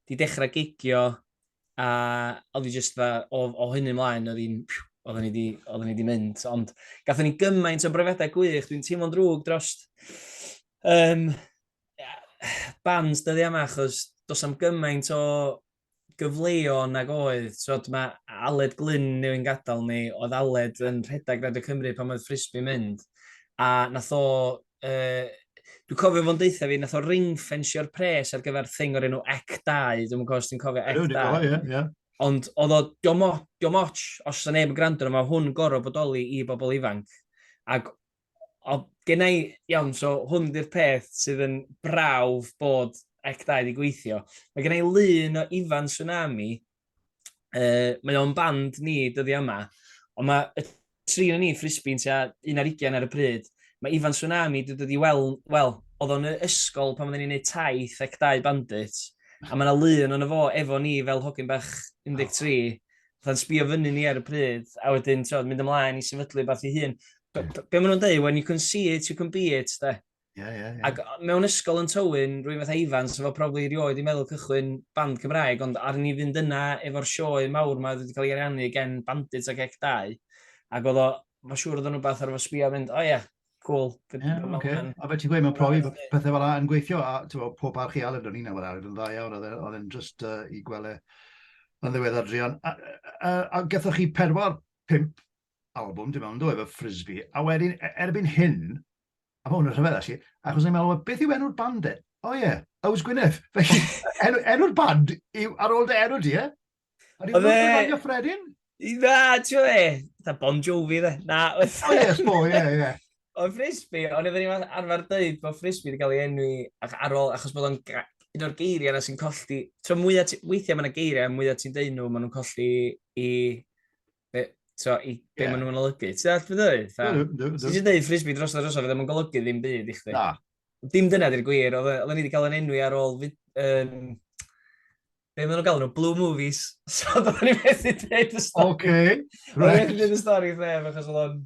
wedi dechrau gigio, a oedd hi jyst fa, o, o hynny mlaen, oedd hi'n, oedden ni wedi, oedden ni wedi mynd. Ond gatho ni gymaint o brefedau gwych, dwi'n teimlo'n drwg dros um, bands dyddi yma, achos dos am gymaint o gyfleo nag oedd, twod, ma' Aled Glyn newyn gadal ni, oedd Aled yn rhedag Radio Cymru pan oedd Frisbee mynd, a nath o, yy, dwi'n cofio fo'n deutha fi, nath o ring-fensio'r pres ar gyfer thing o'r enw Ec 2, dwi'n cofio os ti'n cofio Ec 2. Oh, yeah, yeah. Ond oedd o, diom ots, os yna neb yn gwrando, mae hwn gorau bodoli i bobl ifanc. Ac O, gen i, iawn, so hwn di'r peth sydd yn brawf bod Act 2 wedi gweithio. Mae gen i lun o Ifan Tsunami, uh, mae o'n band ni dyddi yma, ond mae y tri yn ni ffrisbi'n tua un ar ugen ar y pryd. Mae Ifan Tsunami wedi dod i weld, wel, oedd o'n ysgol pan oedden ni'n gwneud taith ac dau bandit, a mae yna lun o'n fo efo ni fel hogyn bach 13, fatha'n sbio fyny ni ar y pryd, a wedyn, ti'n mynd ymlaen i sefydlu beth i hun. Be, hmm. be maen nhw'n dweud, when you can see it, you can be it, da. Yeah, yeah, yeah. Ac mewn ysgol yn Tywyn, rwy'n fath Ifan, sef o probably rioed i meddwl cychwyn band Cymraeg, ond ar ni fynd yna efo'r sioe mawr mae wedi cael ei ariannu gen Bandits ac Ec 2, ac oedd o, mae'n siŵr oedd o'n rhywbeth ar efo sbio a mynd, o oh, ie, yeah, Cool. Yeah, okay. A fe ti'n gweud, mae'n profi bod pethau fel yna yn gweithio, a bo, pob arch i Aled o'n i'n awr arad yn dda iawn, oedd e, e'n just uh, i gwele yn ddiwedd adrian. A, a, a gathoch chi pedwar, pimp album, dim ond oedd efo Frisbee, a wedyn, e, erbyn hyn, a mae hwn yn rhyfedd, actually, achos ni'n meddwl, beth yw enw'r band e? O oh, ie, yeah, Ows Gwyneth. Felly, enw'r enw band yw ar ôl dy enw di, e? A ni'n mynd i'r bagio ffredin? Na, ti'n fe, da Bon Jovi, dde. Na, O, yes, bo, ie, ie. O, Frisbee, o'n i'n mynd arfer dweud bod Frisbee wedi cael ei enwi ar ôl, achos bod o'n un o'r geiriau yna sy'n colli, tro mwyaf, weithiau mae'n geiriau, mwyaf ti'n dweud nhw, maen nhw'n colli i, be, tro, i be yeah. maen nhw'n olygu. Ti'n dweud beth dweud? Ti'n dweud Frisbee dros y drosodd, fe ddim yn golygu ddim byd i chdi. Na. Dim dyna di'r gwir, oedd e, ni wedi cael yn enwi ar ôl um, be maen nhw'n galw nhw, blue movies. So, do'n ni methu dweud y stori. Oce, okay, right. Do'n ni methu dweud y stori wrth neb, achos oedd o'n...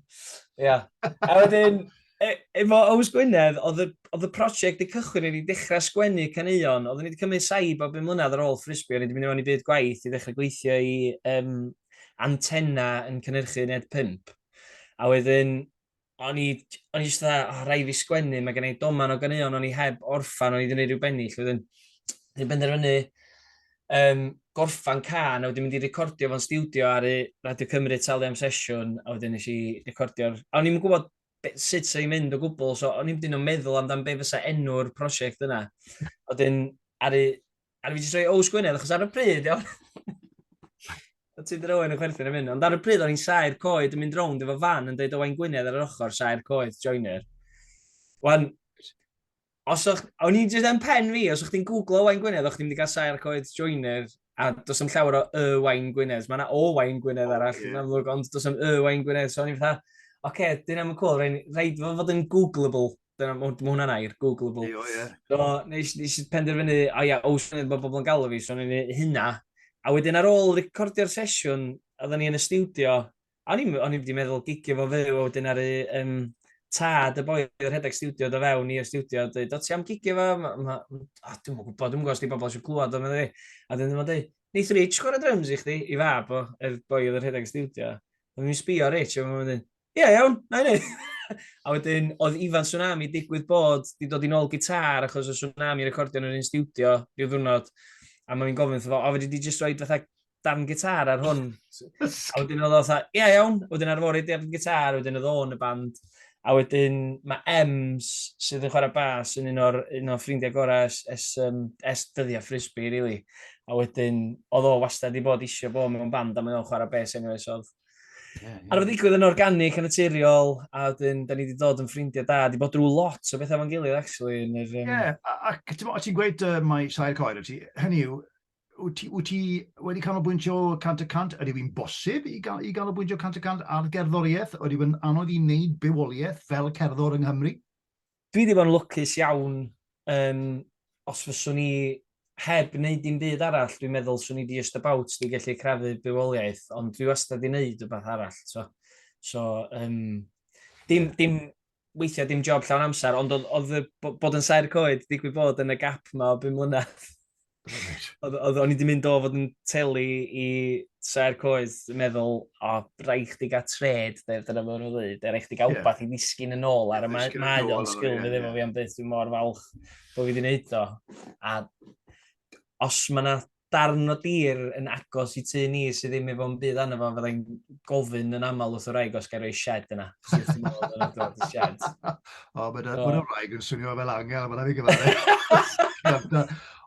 Ia. A wedyn, e, efo Ows Gwynedd, oedd y prosiect y cychwyn i ni dechrau sgwennu caneuon. Oedd ni wedi cymryd saib bob yn mlynedd ar ôl ffrisbio, ni wedi mynd i mewn i byd gwaith i ddechrau gweithio i um, antenna yn cynnyrchu Ned 5. A wedyn, o'n i, o'n i just dda, oh, rai fi sgwennu, mae gen i doman o ganeuon, o'n i heb orffan, o'n i wedi gwneud rhyw bennill, wedyn, dwi'n benderfynu um, gorffan can, a wedyn mynd i recordio fo'n studio ar y Radio Cymru talu am sesiwn, a wedyn nes i recordio'r... A o'n i'n gwybod sut sy'n ei mynd o gwbl, so o'n i'n dyn o'n meddwl amdano be fysa enw'r prosiect yna. A wedyn, ar y A dwi wedi troi Ows Gwynedd, achos ar y pryd, iawn. Oedd ti dyn yn chwerthin am hyn. Ond ar y pryd, o'n i'n saer coed yn mynd rownd efo fan yn dweud Owain Gwynedd ar yr ochr, saer coed, joiner. Wan, os o'ch, o'n i'n dweud yn pen fi, os o'ch ti'n googlo Owain Gwynedd, o'ch ti'n mynd i gael saer coed joiner, a dos am llawer o y Wain Gwynedd. Mae yna o Wain Gwynedd oh, arall, yeah. amlwg, ond dos am y Wain Gwynedd. So o'n i'n fatha, oce, okay, dyn am y cwl, rhaid fod yn googleable. Dyna, mae hwnna'n air, Googleable. Eio, ie. So, nes, nes i penderfynu, o ia, os yna bod bobl yn galw fi, so ni'n ei hynna. A wedyn ar ôl recordio'r sesiwn, oedden ni yn y studio, a o'n i wedi meddwl gigio fo fyw, a wedyn ar y um, tad y boi o'r rhedeg studio do fewn i'r studio, a dweud, o ti am gigio fo? Ma, ma, oh, dwi'n mwyn gwybod, dwi'n gwybod os di bobl eisiau clywed o'n meddwl fi. A dyn nhw'n dweud, Neith Rich chwarae drums i chdi, i fab o, er boi oedd yr rhedeg studio. Dwi'n mynd sbio Rich, a mae'n mynd, Ie, yeah, iawn, na i wneud. a wedyn, oedd Ifan Tsunami digwydd bod di dod i'n ôl gitar achos oedd Tsunami recordio yn yr un studio rhyw ddwrnod. A mae'n gofyn wrtho fo, o, fyddi di jyst rhoi fatha darn gitar ar hwn. a wedyn oedd oedd, ie yeah, iawn, wedyn ar fori darn gitar, wedyn oedd o'n y band. A wedyn mae Ems sydd yn chwarae bas yn un o'r, un o'r ffrindiau gorau es, es, um, es dyddiau frisbee, really. A wedyn, oedd o wastad i bod eisiau bod mewn band a mae o'n chwarae bes enw esodd. Ar oedd digwydd yn organic, yn y naturiol, a wedyn, da ni wedi dod yn ffrindiau da. Di bod drwy lot o bethau fo'n gilydd, actually. Ie, yr, um... yeah, ac o ti'n gweud uh, mae sair coed o ti, hynny yw, wyt ti, wyt ti wedi canolbwyntio cant y cant? Ydy fi'n bosib i, gan, i ganolbwyntio cant y cant ar gerddoriaeth? Ydy fi'n anodd i wneud bywoliaeth fel cerddor yng Nghymru? Dwi 'di bod yn lwcus iawn, yym, os fyswn i heb wneud dim byd arall, dwi'n meddwl 'swn i just about 'di gallu crafu bywoliaeth, ond dwi wastad 'di wneud wbath arall, t'mo'? So, yym, dim, dim, weithiau dim job llawn amser, ond oedd, oedd y bod yn saer coed, digwydd bod, yn y gap 'ma o bum mlynedd. Right. O'n i wedi mynd o fod yn telu i Saer Coed, yn meddwl, o, rai chdi gael tred, dyna mae'n nhw'n dweud, er eich di gael wbath i ddisgyn yn ôl, ar y mae o'n sgil fi ddim o fi am dweud, dwi'n mor falch bod fi wedi gwneud o. A os mae yna darn o dir yn agos i tu ni sydd ddim efo'n bydd anna fo, fyddai'n gofyn yn aml wrth y wraig os gael ei shed yna. Sut ti'n meddwl bod yna dod i shed? O, mae'n oh. ma wraig yn swnio fel angel, mae'n rhaid i gyfaru.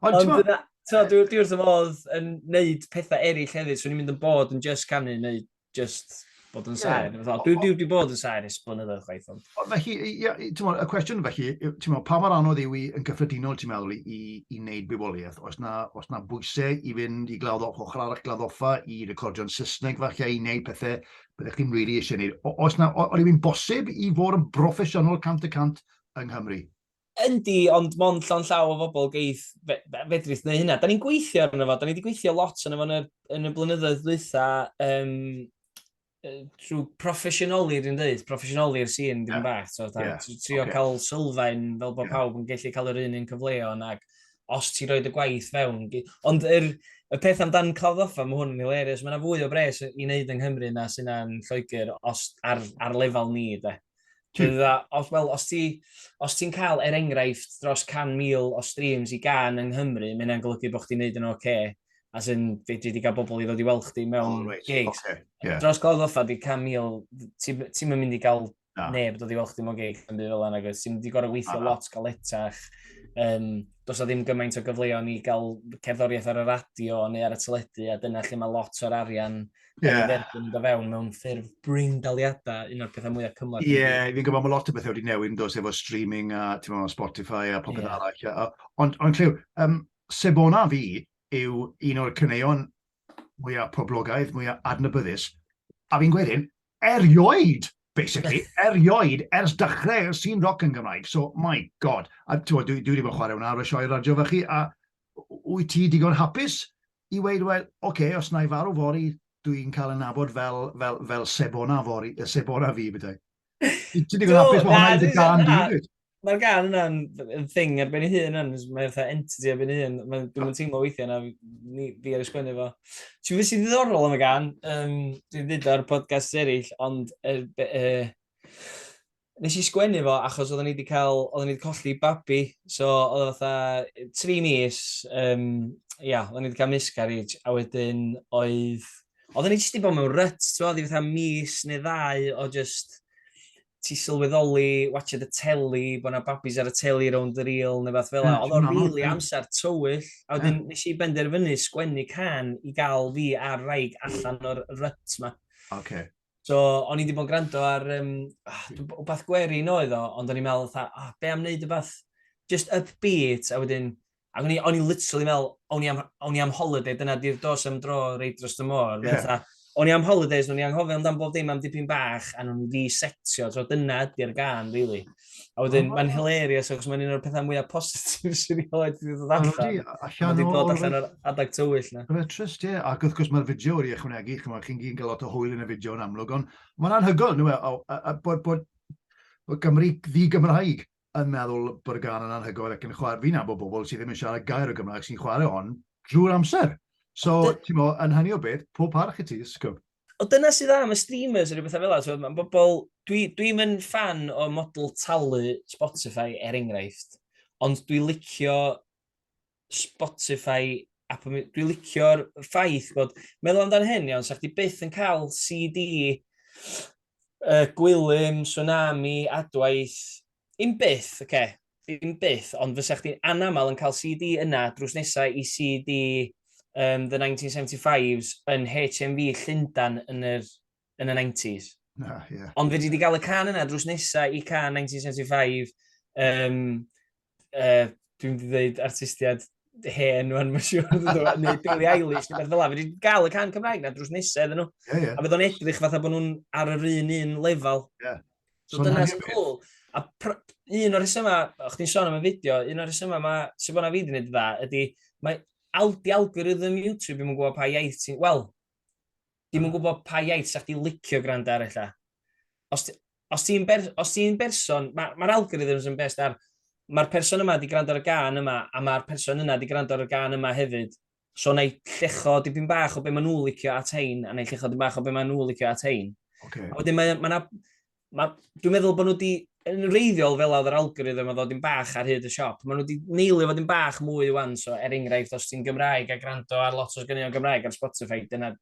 Ond ti'n So, dwi, dwi wrth y fodd yn neud pethau eraill hefyd, so ni'n mynd yn bod yn just canu neu just bod yn saer. Yeah. Dwi, dwi wedi bod yn saer ys blynyddoedd chwaith. Ond. Felly, ia, y cwestiwn felly, mo, pa mor anodd yw i yn gyffredinol ti'n meddwl i, i, i wneud bywoliaeth? Os na, os na bwysau i fynd i glawdd ochr arall gladdoffa i recordio'n Saesneg falle i wneud pethau byddech chi'n rili really eisiau gwneud. Os na, o'r yw'n bosib i fod yn broffesiynol cant y cant yng Nghymru? Yndi, ond mond llawn llaw o fobl geith fedrith neu hynna. Da ni'n gweithio arno fo, da ni wedi gweithio lot arno fo yn y, yn y blynyddoedd ddwytha, um, trwy proffesiynoli, dwi'n dweud, proffesiynoli i'r sîn, dim yeah. bach. So, da, yeah. trio okay. cael sylfaen fel bod yeah. pawb yn gallu cael yr un un cyfleon ac os ti'n rhoi dy gwaith fewn. Ond yr, y peth amdan clawddoffa, mae hwn yn hilarious. Mae yna fwy o bres i wneud yng Nghymru na sy'n yna'n Lloegr os, ar, ar lefel ni, de. Dwi'n dda, os, well, os ti'n ti, ti cael er enghraifft dros 100,000 o streams i gan yng Nghymru, mae yna'n golygu bod chdi'n neud yn oce. Okay as in, fe dwi wedi cael bobl i ddod i weld chdi mewn oh, right. gigs. Okay. Yeah. Dros Gawdd Offa, di 100,000, ti'n ti mynd i gael Na. Neb dod i weld chdi mewn gig yn byd fel yna, nag oes. Ti'n di gorau weithio ah. lot galetach. Um, dos o ddim gymaint o gyfleoedd i gael cerddoriaeth ar y radio neu ar y teledu, a dyna lle mae lot o'r arian yeah. yn dod fewn mewn ffurf bring daliadau, un o'r pethau mwyaf cymlaeth. Ie, yeah, fi'n gwybod mae lot o bethau wedi newid yn dos efo streaming a ti'n meddwl Spotify a popeth yeah. arall. Ond on, clyw, um, Sebona fi yw un o'r cyneuon mwyaf poblogaidd, mwyaf adnabyddus. A fi'n gweud hyn, erioed, basically, erioed ers dechrau y sîn roc yn Gymraeg. So, my god. A dwi, dwi wedi bod chwarae hwnna ar y sioe radio fe chi, a wyt ti digon hapus i weid, wel, oce, okay, os na i farw fori, dwi'n cael yn nabod fel, fel, fel sebona fori, sebona fi, bydau. Ti'n digon hapus mae hwnna wedi gan di, Mae'r gan yna'n yn thing ar ben ei hun yn, mae'n fatha entity ar ben ei hun. Mae'n dwi'n teimlo weithiau na fi, ni, fi ar y sgwennu fo. Ti'n fwy sy'n ddiddorol am y gan, um, dwi'n dweud ar podcast eraill, ond er, er, nes i sgwennu fo achos oedden ni wedi cael, oedden ni wedi colli babi, so oedd fatha tri mis, um, ia, oedden ni wedi cael miscarriage, a wedyn oedd, oedden ni jyst wedi bod mewn rut, ti'n fawr, fatha mis neu ddau o just, ti sylweddoli, watched y teli, bod yna babis ar y teli rownd yr il, neu fath fel la. Oedd o'n rili really amser tywyll, a wedyn yeah. nes i benderfynu sgwennu can i gael fi ar raig allan o'r ryt ma. Okay. So, o'n i wedi bod yn gwrando ar um, ah, wbath gwerin oedd o, ond o'n i'n meddwl, ah, be am wneud wbath just upbeat, a wedyn Ac o'n i, o'n i literally meddwl, o'n i am, o'n i am holiday, dyna di'r dos am dro reit dros y môr. Yeah. Fatha, o'n i am holidays, o'n i anghofio amdan bob dim am dipyn bach, a nhw'n fi setio, so dyna ydy'r gan, really. A wedyn, oh. mae'n hilarious, achos mae'n un o'r pethau mwyaf positif sy'n ei oed wedi dod allan. Allan wedi dod allan o'r adag tywyll na. Mae'n trist, ie. Ac wrth gwrs, mae'r fideo wedi ychwanegu, chi'n gyn gael lot o hwyl yn y fideo yn amlwg, ond mae'n anhygoel, nhw, e, a, a, a bod, bod, bod Gymru ddi-Gymraeg yn meddwl bod y gan yn anhygoel ac yn chwarae, fi'n nabod bobl sydd ddim yn siarad gair o Gymraeg sy'n chwarae hon drwy'r amser. So, ti'n mo, yn hynny o beth, pob parch i ti, sgwb. O dyna sydd am y streamers yn rhywbeth fel yna. Mae bobl... Dwi'n dwi yn fan o model talu Spotify, er enghraifft. Ond dwi'n licio Spotify, Apple Music, dwi'n licio'r ffaith bod, meddwl amdano hyn iawn, sa'ch di byth yn cael CD, uh, Gwilym, Tsunami, Adwaith, un byth, oce, okay. ddim byth, ond fysa chdi'n anaml yn cael CD yna drws nesau i CD um, The 1975s yn HMV Llundan yn yr yn y 90s. Na, ie. Yeah. Ond fe wedi cael y can yna drws nesaf i can 1975. Um, uh, dwi'n wedi dweud artistiad hen rwan, mae'n siŵr, neu Billy Eilish, neu beth fel la. Fe wedi cael y can Cymraeg na drws nesaf iddyn nhw. Yeah, yeah. A bydd o'n edrych fatha bod nhw'n ar yr un un lefel. Yeah. So, so dyna sy'n cool. A un o'r rhesymau, o'ch ti'n sôn am y fideo, un o'r rhesymau mae sy'n bod na fi wedi gwneud dda, ydy, mae aldi algorithm YouTube, dwi'n gwybod pa iaith ti'n... Wel, Dim yn gwybod pa iaith sa chdi licio gwrando ar ella. Os, os ti'n ber, ti berson, mae'r ma algorithms yn best ar, mae'r person yma di gwrando ar y gan yma, a mae'r person yna di gwrando ar y gan yma hefyd. So na i llecho dipyn bach o be maen nhw licio at hein, a na i llecho dipyn bach o be maen nhw licio at hein. Okay. A wedyn mae, mae na, dwi'n meddwl bod nhw wedi, yn reiddiol fel oedd yr algorithm o ddod i'n bach ar hyd y siop, maen nhw wedi neilio fod i'n bach mwy i wan, so er enghraifft, os ti'n Gymraeg a gwrando ar lot o'r gynion Gymraeg ar Spotify, dyna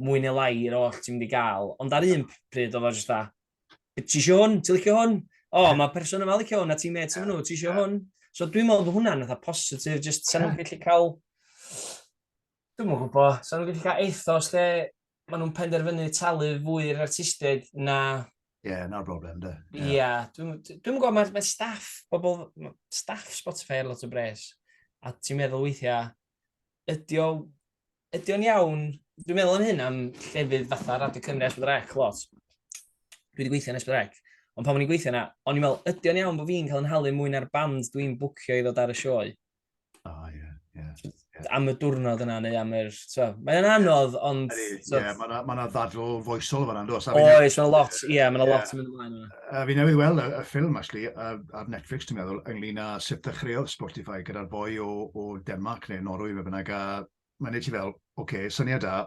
mwy neu lai yr oll ti'n mynd i gael. Ond ar un pryd oedd o jyst da, ti eisiau hwn, ti'n licio hwn? O, oh, mae person yma licio hwn, a ti'n meddwl, ti'n meddwl, ti eisiau hwn? So dwi'n meddwl bod hwnna'n eitha positif, jyst sa'n nhw'n gallu cael... Dwi'n mwyn gwybod, sa'n nhw'n gallu cael ethos lle maen nhw'n penderfynu talu fwy i'r artistiaid na... Ie, yeah, na'r broblem, da. Ie, yeah. yeah, dwi'n dwi gwybod, mae, mae staff, bobl, staff Spotify ar lot o bres, a ti'n meddwl weithiau, ydy o'n ydy o'n iawn, dwi'n meddwl yn hyn am llefydd fatha Radio Cymru Esbyd Rec lot. Dwi wedi gweithio yn Esbyd Rec, ond pan o'n i'n gweithio yna, o'n i'n meddwl, ydy o'n iawn bod fi'n cael yn halu mwy na'r band dwi'n bwcio i ddod ar y sioe? O, oh, ie, yeah, ie. Yeah, yeah. Am y diwrnod yna, neu am yr... Mae'n anodd, ond... Ie, yeah, mae'n ma, ma ddadl foesol fan yna, Oes, mae'n lot, ie, yeah, mae'n lot yn mynd ymlaen yna. Uh, fi newydd weld y, y ffilm, actually, uh, ar Netflix, ti'n meddwl, ynglyn â sut ddechreuodd Spotify gyda'r boi o, o Denmark neu Norwy, fe bynnag, a mae'n ei ti fel, oce, okay, syniad da,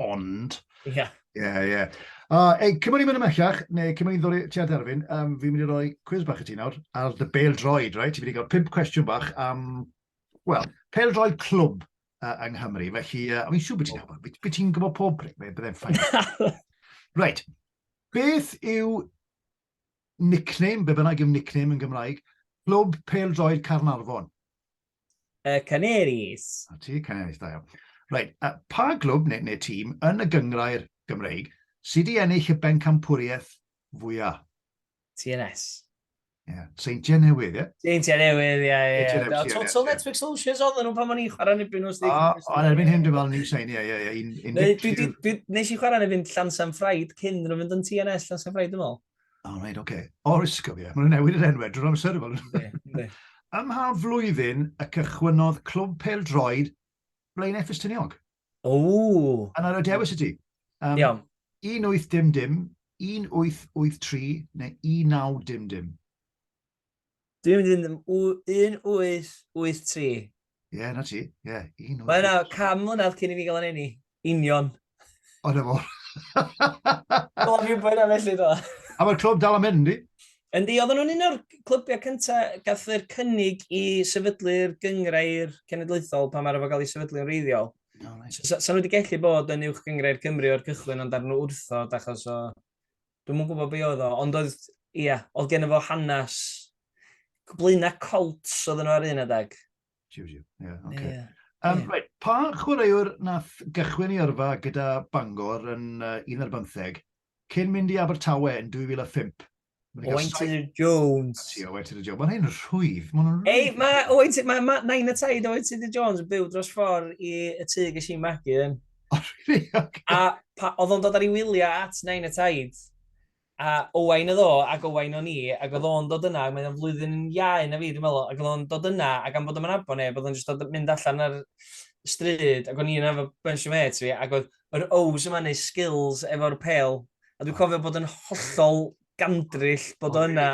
ond. Ie. Yeah. Ie, yeah, ie. Yeah. Uh, ei, cyn bod ni'n mynd ymellach, neu cyn bod ni'n ddod ti at Erfyn, um, fi'n mynd i roi cwiz bach i ti nawr, ar dy bel droed, right? Ti'n mynd i gael pimp cwestiwn bach am, wel, pel droed clwb uh, yng Nghymru. Felly, uh, o'n i'n siŵr bod ti'n nabod, beth beth ti'n gwybod pob bryd, fe byddai'n ffain. right, beth yw nickname, be bynnag yw nickname yn Gymraeg, clwb pel droed Carnarfon? Y Canaries. A ti, Canaries, da iawn. Reit, uh, pa glwb neu, neu tîm yn y gyngrair Gymreig sydd wedi ennill y bencampwriaeth fwyaf? TNS. Ie, yeah. Seintiau Newydd, ie? Yeah? Seintiau Newydd, ie, ie. Total Netflix Solutions oedd nhw pan o'n i'n chwarae yn ebyn nhw. Ond erbyn hyn dwi'n fel ni'n sein, ie, ie, ie. Nes i chwarae yn ebyn Llansan Ffraid cyn nhw'n mynd yn TNS Llansan Ffraid, dwi'n meddwl. O, oh, reit, oce. Okay. Oes, cofio. Mae'n newid yr enwau drwy'r amser. Ynddi, Ym mha flwyddyn y cychwynnodd clwb pel droed Blaen Effes Tyniog? O! A na, dewis y ti. Um, Iawn. 1800, 1883 neu 1900? Dwi'n mynd yn 1883. Ie, yeah, na ti. Ie, yeah, 1883. Mae yna cam mlynedd cyn i fi gael yn enni. Union. O, na fo. Do, fi'n bwyd am felly, do. A mae'r clwb dal am mynd, di? Yndi, oedd nhw'n un o'r clybiau cyntaf gath yr cynnig i sefydlu'r gyngrau'r cenedlaethol pan mae'r efo gael ei sefydlu'n reiddiol. No, right. so, so, so nhw wedi gallu bod yn uwch gyngrau'r Cymru o'r cychwyn ond ar nhw wrthod achos o Dwi'm yn gwybod be oedd o, ond oedd, ia, oedd gen fo hanes blaena colts oedd yno ar un adeg. Siw, siw, ie, yeah, oce. Okay. Um, yeah. right. Pa chwaraewr nath gychwyn i yrfa gyda Bangor yn uh, 11 cyn mynd i Abertawe yn 2005? Owain Tudor Jones. Ti, Owain Tudor Jones. Mae'n hyn rhwydd. Mae'n rhwydd. Ei, mae Owain Tudor, mae ma, Nain y Taid Owain Tudor Jones yn byw dros ffordd i y tŷ gysi magu yn. O, really? Okay. A pa, oedd o'n dod ar ei wyliau at Nain y Taid, a Owain oedd o, ac Owain o'n i, ac oedd o'n dod yna, mae'n flwyddyn iau na fi, dwi'n meddwl, ac oedd o'n dod yna, ac am bod o'n abo neb, oedd o'n just dod mynd allan ar stryd, ac o'n i'n efo bunch o mates fi, ac oedd yr O's yma neu skills efo'r pel, a dwi'n cofio bod yn hollol gandrill bod o yna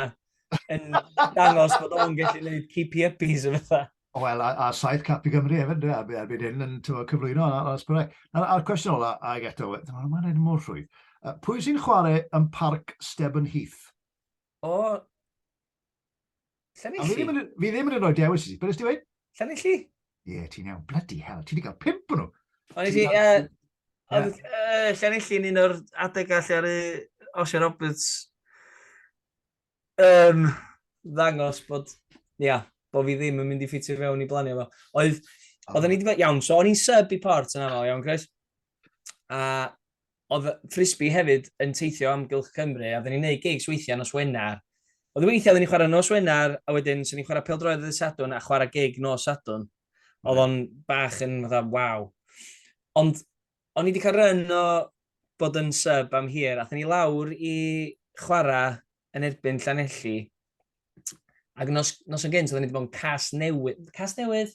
yn dangos bod o'n gallu gwneud keepy uppies o fatha. Wel, a, a saith cap i Gymru hefyd, dwi, a erbyn hyn yn tyfod, cyflwyno ar Asbwrec. A'r cwestiwn ola, a ag eto, dyma mae'n edrych mor rhwydd. Uh, pwy sy'n chwarae yn parc Stebyn Heath? O, Llanelli. A fi ddim yn, fi ddim yn rhoi dewis i ti, beth ysdi wein? Llanelli. Ie, yeah, ti'n iawn, bloody hell, ti wedi cael pimp nhw. Ond i ti, Llanelli yn un o'r adegau lle ar y Osio Roberts Yym, ddangos bod, ia, bod fi ddim yn mynd i ffitio fewn i blanio fo. Oedd, oedd ni wedi bod, iawn, so o'n i'n sub i port yn aml, iawn, Chris? A oedd Frisbee hefyd yn teithio am Gylch Cymru, a oedden ni'n neud gigs weithiau nos Wener. Oedd weithiau oedden ni'n chwarae nos Wener, a wedyn so ni'n chwarae peldroed ddydd Sadwn a chwarae gig nos Sadwn. Oedd o'n bach yn fatha, waw. Ond O'n i wedi cael run o bod yn sub am hir, athyn ni lawr i chwarae yn erbyn Llanelli. Ac nos, nos yn gynt, oedden ni wedi bod yn cas newydd. Cas newydd?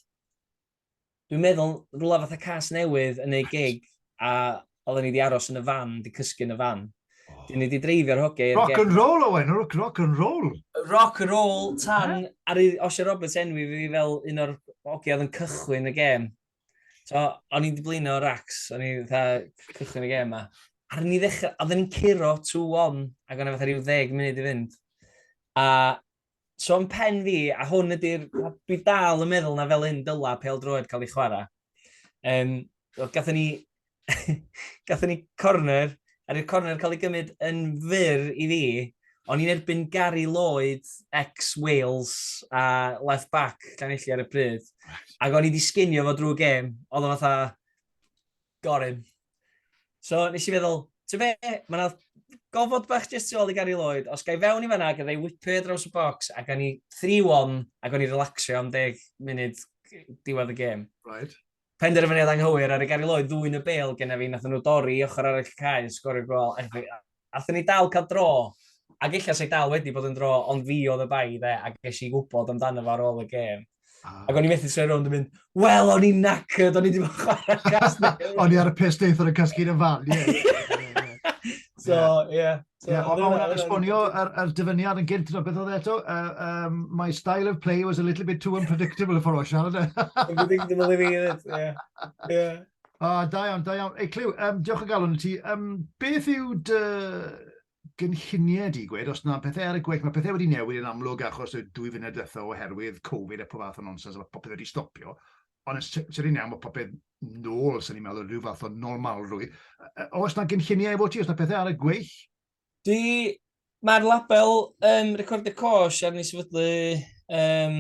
Dwi'n meddwl, rhywle fatha cas newydd yn ei gig, a oedden ni wedi aros yn y fan, wedi cysgu yn y fan. Oh. Dyn ni wedi dreifio'r hoge. Rock and roll, Owen, rock, rock and roll. Rock and roll, tan, yeah. ar Osha Roberts enwi fi fel un o'r hoge oedd yn cychwyn y gêm. So, o'n i'n diblino Rax, o'n i'n fatha cychwyn y gêm ma. Ar ni ddechrau, a oedden ni'n curo 2-1, ac o'n i'n fatha rhyw ddeg munud i fynd. A so yn pen fi, a hwn ydy'r, dwi dal yn meddwl na fel un dyla pel droed cael ei chwarae. Um, Gatho ni gatho ni corner, a rwy'r corner cael ei gymryd yn fyr i fi, ond i'n erbyn Gary Lloyd, ex-Wales, a left back, Llanelli ar y pryd. Ac o'n i wedi sginio fo drwy gêm, oedd o'n fatha, gorym. So, nes i feddwl, ti'n fe, mae yna gofod bach jyst tu ôl i Gary Lloyd, os gai fewn i fanna, gyda i whipio draws y box, ac o'n i 3-1, ac o'n i relaxio am deg munud diwedd y gêm. Right. Penderfyniad anghywir ar y Gary Lloyd ddwyn y bêl genna fi, nathon nhw dorri i ochr arall y cae a sgorio gol anghywir. Athon ni dal cael dro, ac ella sa i dal wedi bod yn dro ond fi oedd y bai dde a ges i wybod amdano fo ar ôl y gêm. Ac o'n i methu troi rownd yn mynd, wel o'n i'n knackered, o'n i wedi bod yn chwarae cast newydd. O'n i ar y piss neithiwr yn casglu'r y fan, ie. So, ie. So, yeah, ond o'n esbonio ar, ar dyfyniad yn gynt, beth oedd e eto? Uh, um, my style of play was a little bit too unpredictable for o siarad. Unpredictable i fi, yeah. yeah. Ah, da iawn, da iawn. Ei, Clyw, um, diolch o galon i ti. Um, beth yw dy gynlluniau di gwed, os yna pethau ar y gweill, mae pethau wedi newid yn amlwg achos y dwy funud diwethaf oherwydd Covid a pob fath o nonsens, a mae popeth wedi stopio. Ond yn sicr iawn bod popeth nôl, sy'n ni'n meddwl, rhyw fath o normalrwydd. Oes yna gynlluniau efo ti, oes yna pethau ar y gweill? Dwi, mae'r label um, Recordio Cosh ar ni sefydlu um,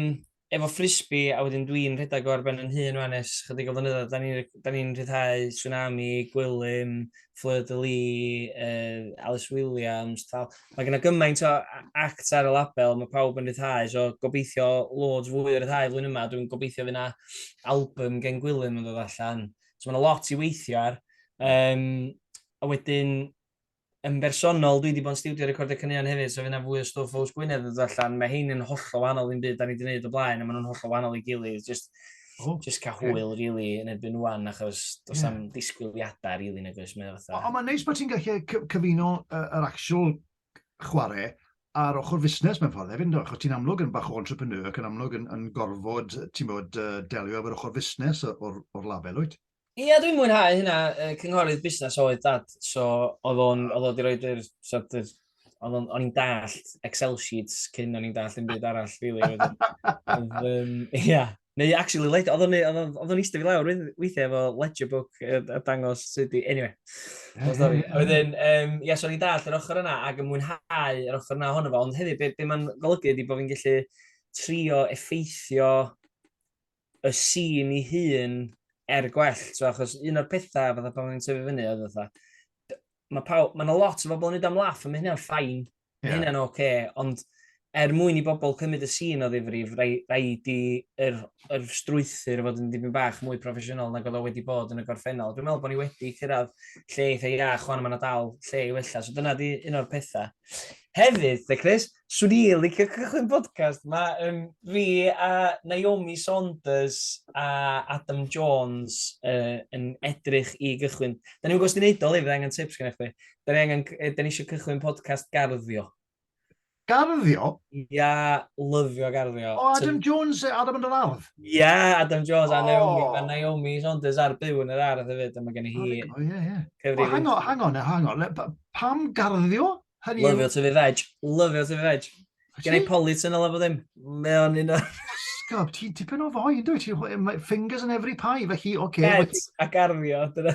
efo frisbee a wedyn dwi'n rhedeg o ar ben yn hun fan es chydig o flynyddoedd. Da ni'n ni rhyddhau tsunami, gwylym, Fleur de Lis, uh, Alice Williams, tal. Mae gen i gymaint o act ar y label, mae pawb yn rhyddhau, so gobeithio loads fwy o rhyddhau flwyddyn yma, dwi'n gobeithio fyna album gen Gwilym yn dod allan. So mae yna lot i weithio ar. Um, a wedyn, yn bersonol, dwi wedi bod yn studio recordio caneuon hefyd, so fyna fwy o stwff oes Gwynedd yn dod allan. Mae hyn yn holl o wahanol i'n byd da ni wedi gwneud o blaen, a maen nhw'n holl o wahanol i gilydd. Just, oh, just cael okay. hwyl really yn erbyn wan achos does yeah. am disgwyliadau really nag oes mae fatha. Ond mae'n neis bod ti'n gallu cyfuno yr uh, actual chwarae a'r ochr fusnes mewn ffordd hefyd, achos ti'n amlwg yn bach o entrepreneur ac yn amlwg yn, yn gorfod, ti'n bod, uh, delio efo'r ochr fusnes o'r, or lafel, wyt? Ia dwi'n mwynhau hynna yy cynghorydd busnes oedd dad so oedd o'n oedd o 'di roid yr sort of oedd o'n o'n i'n dallt excel sheets cyn o'n i'n dallt unrhyw byd arall rili oedd oedd yym ia neu actually led- oedd o'n neu- oedd o'n oedd o'n iste fi lawr wei- weithiau efo ledger book yy a dangos sut i anyway long story a wedyn yym ia so o'n i'n dallt yr ochr yna ac yn mwynhau yr ochr yna ohono fo ond hefyd be be ma'n golygu ydi bo' fi'n gellu trio effeithio y sîn i hun er gwell, so, achos un o'r pethau fatha pan o'n i'n tyfu fyny oedd fatha, mae pawb, mae yna lot o bobl yn ei am laff, a mae hynna'n ffain, yeah. mae hynna'n oce, okay, ond er mwyn i bobl cymryd y sîn o ddifrif, rhaid i yr, yr strwythyr fod yn dipyn bach mwy proffesiynol nag oedd o wedi bod yn y gorffennol. Dwi'n meddwl bod ni wedi cyrraedd lle eitha iach, chwan yma na dal lle i wella. So dyna di un o'r pethau. Hefyd, de Chris, Swn i licio cychwyn podcast ma yn fi a Naomi Saunders a Adam Jones uh, yn edrych i gychwyn. Da ni'n gwybod sy'n ei wneud o, Liv, angen tips gen i chdi. Da ni, angen, da ni eisiau cychwyn podcast garddio. Garddio? Ia, lyfio garddio. O, Adam Jones, Adam yn yr ardd? Ia, Adam Jones oh. a Naomi, a Naomi Saunders ar byw yn yr ardd hefyd, a mae gen i hi. O, ie, ie. O, hang on, hang on, hang on. Pam garddio? Hynny Lyfio to fi veg. Lyfio to fi veg. Gen i polit yn olaf o ddim. Mae o'n un o... Gob, ti'n tipyn o fwy, yn dwi? Fingers in every pie, fe chi, oce. Okay, Sheds a garddio, dyna.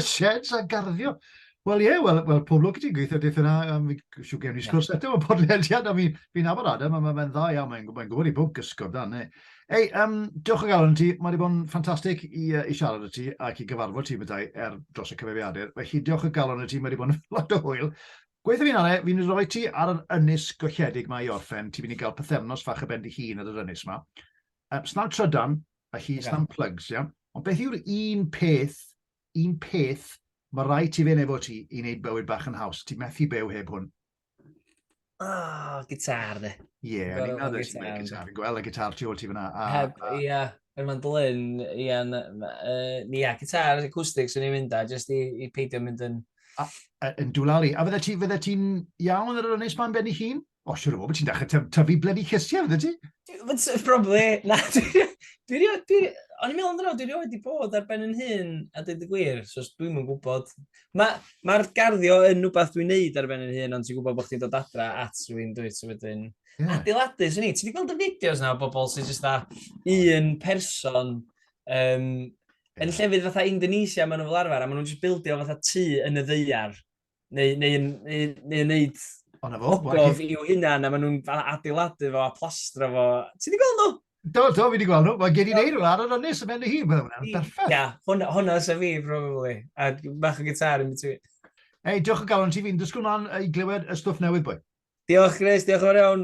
Sheds a garddio. Wel ie, wel, well, pob lwc i ti'n gweithio dweud yna, um, siw gen i sgwrs eto, mae'n podlediad, a fi'n fi nabod Adam, a mae'n dda iawn, mae'n gwybod i bwg gysgod dan, ne. Ei, um, diolch o galon ti. Mae wedi bod yn ffantastig i, uh, i siarad y ti ac i gyfarfod ti meddai er dros y cyfeiriadur. Mae chi diolch o galon y ti, mae wedi bod yn lot o hwyl. Gweithio fi'n anna, fi'n rhoi ti ar yr ynys golledig mae i orffen. Ti'n mynd i gael pethefnos fach y ben di hun ar yr ynys yma. Um, snawn trydan, a chi yeah. snawn plugs, iawn? Yeah? Ond beth yw'r un peth, un peth, mae rai ti fe nefo ti i wneud bywyd bach yn haws. Ti'n methu byw heb hwn. Oh, gitar, dde. Ie, yeah, o'n i'n meddwl eisiau gwneud gitar. Fi'n gweld y gitar tu ôl ti fyna. Heb, ie, yn ma'n dlyn, ie, ie, gitar, acoustic, swn i'n mynd a, jyst i, i peidio mynd yn... A, a, yn dwlalu. A fydde ti'n fydde ti iawn ar yr ynnes ma'n benni hun? O, siwr o fod, ti'n dechrau tyfu blydi cysiau, fydde ti? Probably, na, dwi'n... O'n i'n meddwl amdano, dwi'n rhoi wedi bod ar ben yn hun, a dweud y gwir, so dwi'n mwyn gwybod. Mae ma garddio yn rhywbeth dwi'n neud ar ben yn hun, ond ti'n gwybod bod chdi'n dod adra at rwy'n dwyt, so wedyn... Yeah. Adeiladu, swn i. Ti wedi gweld y fideos na o bobl sy'n jyst dda un person um, yn llefydd fatha Indonesia maen nhw fel arfer, a maen nhw'n jyst bildio fatha tu yn y ddeiar, neu, neu, neu, neu, neu wneud Gof i'w hunan, a maen nhw'n adeiladu fo a plastro fo. Ti wedi gweld nhw? Do, do, fi wedi gweld nhw. Mae gen i'n eir ar yr ynnes yn mynd i hi. Mae hwnna'n berffaith. Ia, hwnna sy'n fi, probably. A bach o gitar yn between. Ei, diolch o galon ti fi'n dysgu hwnna'n i glywed y stwff newydd, bwy. Diolch, Chris. Diolch o'r iawn.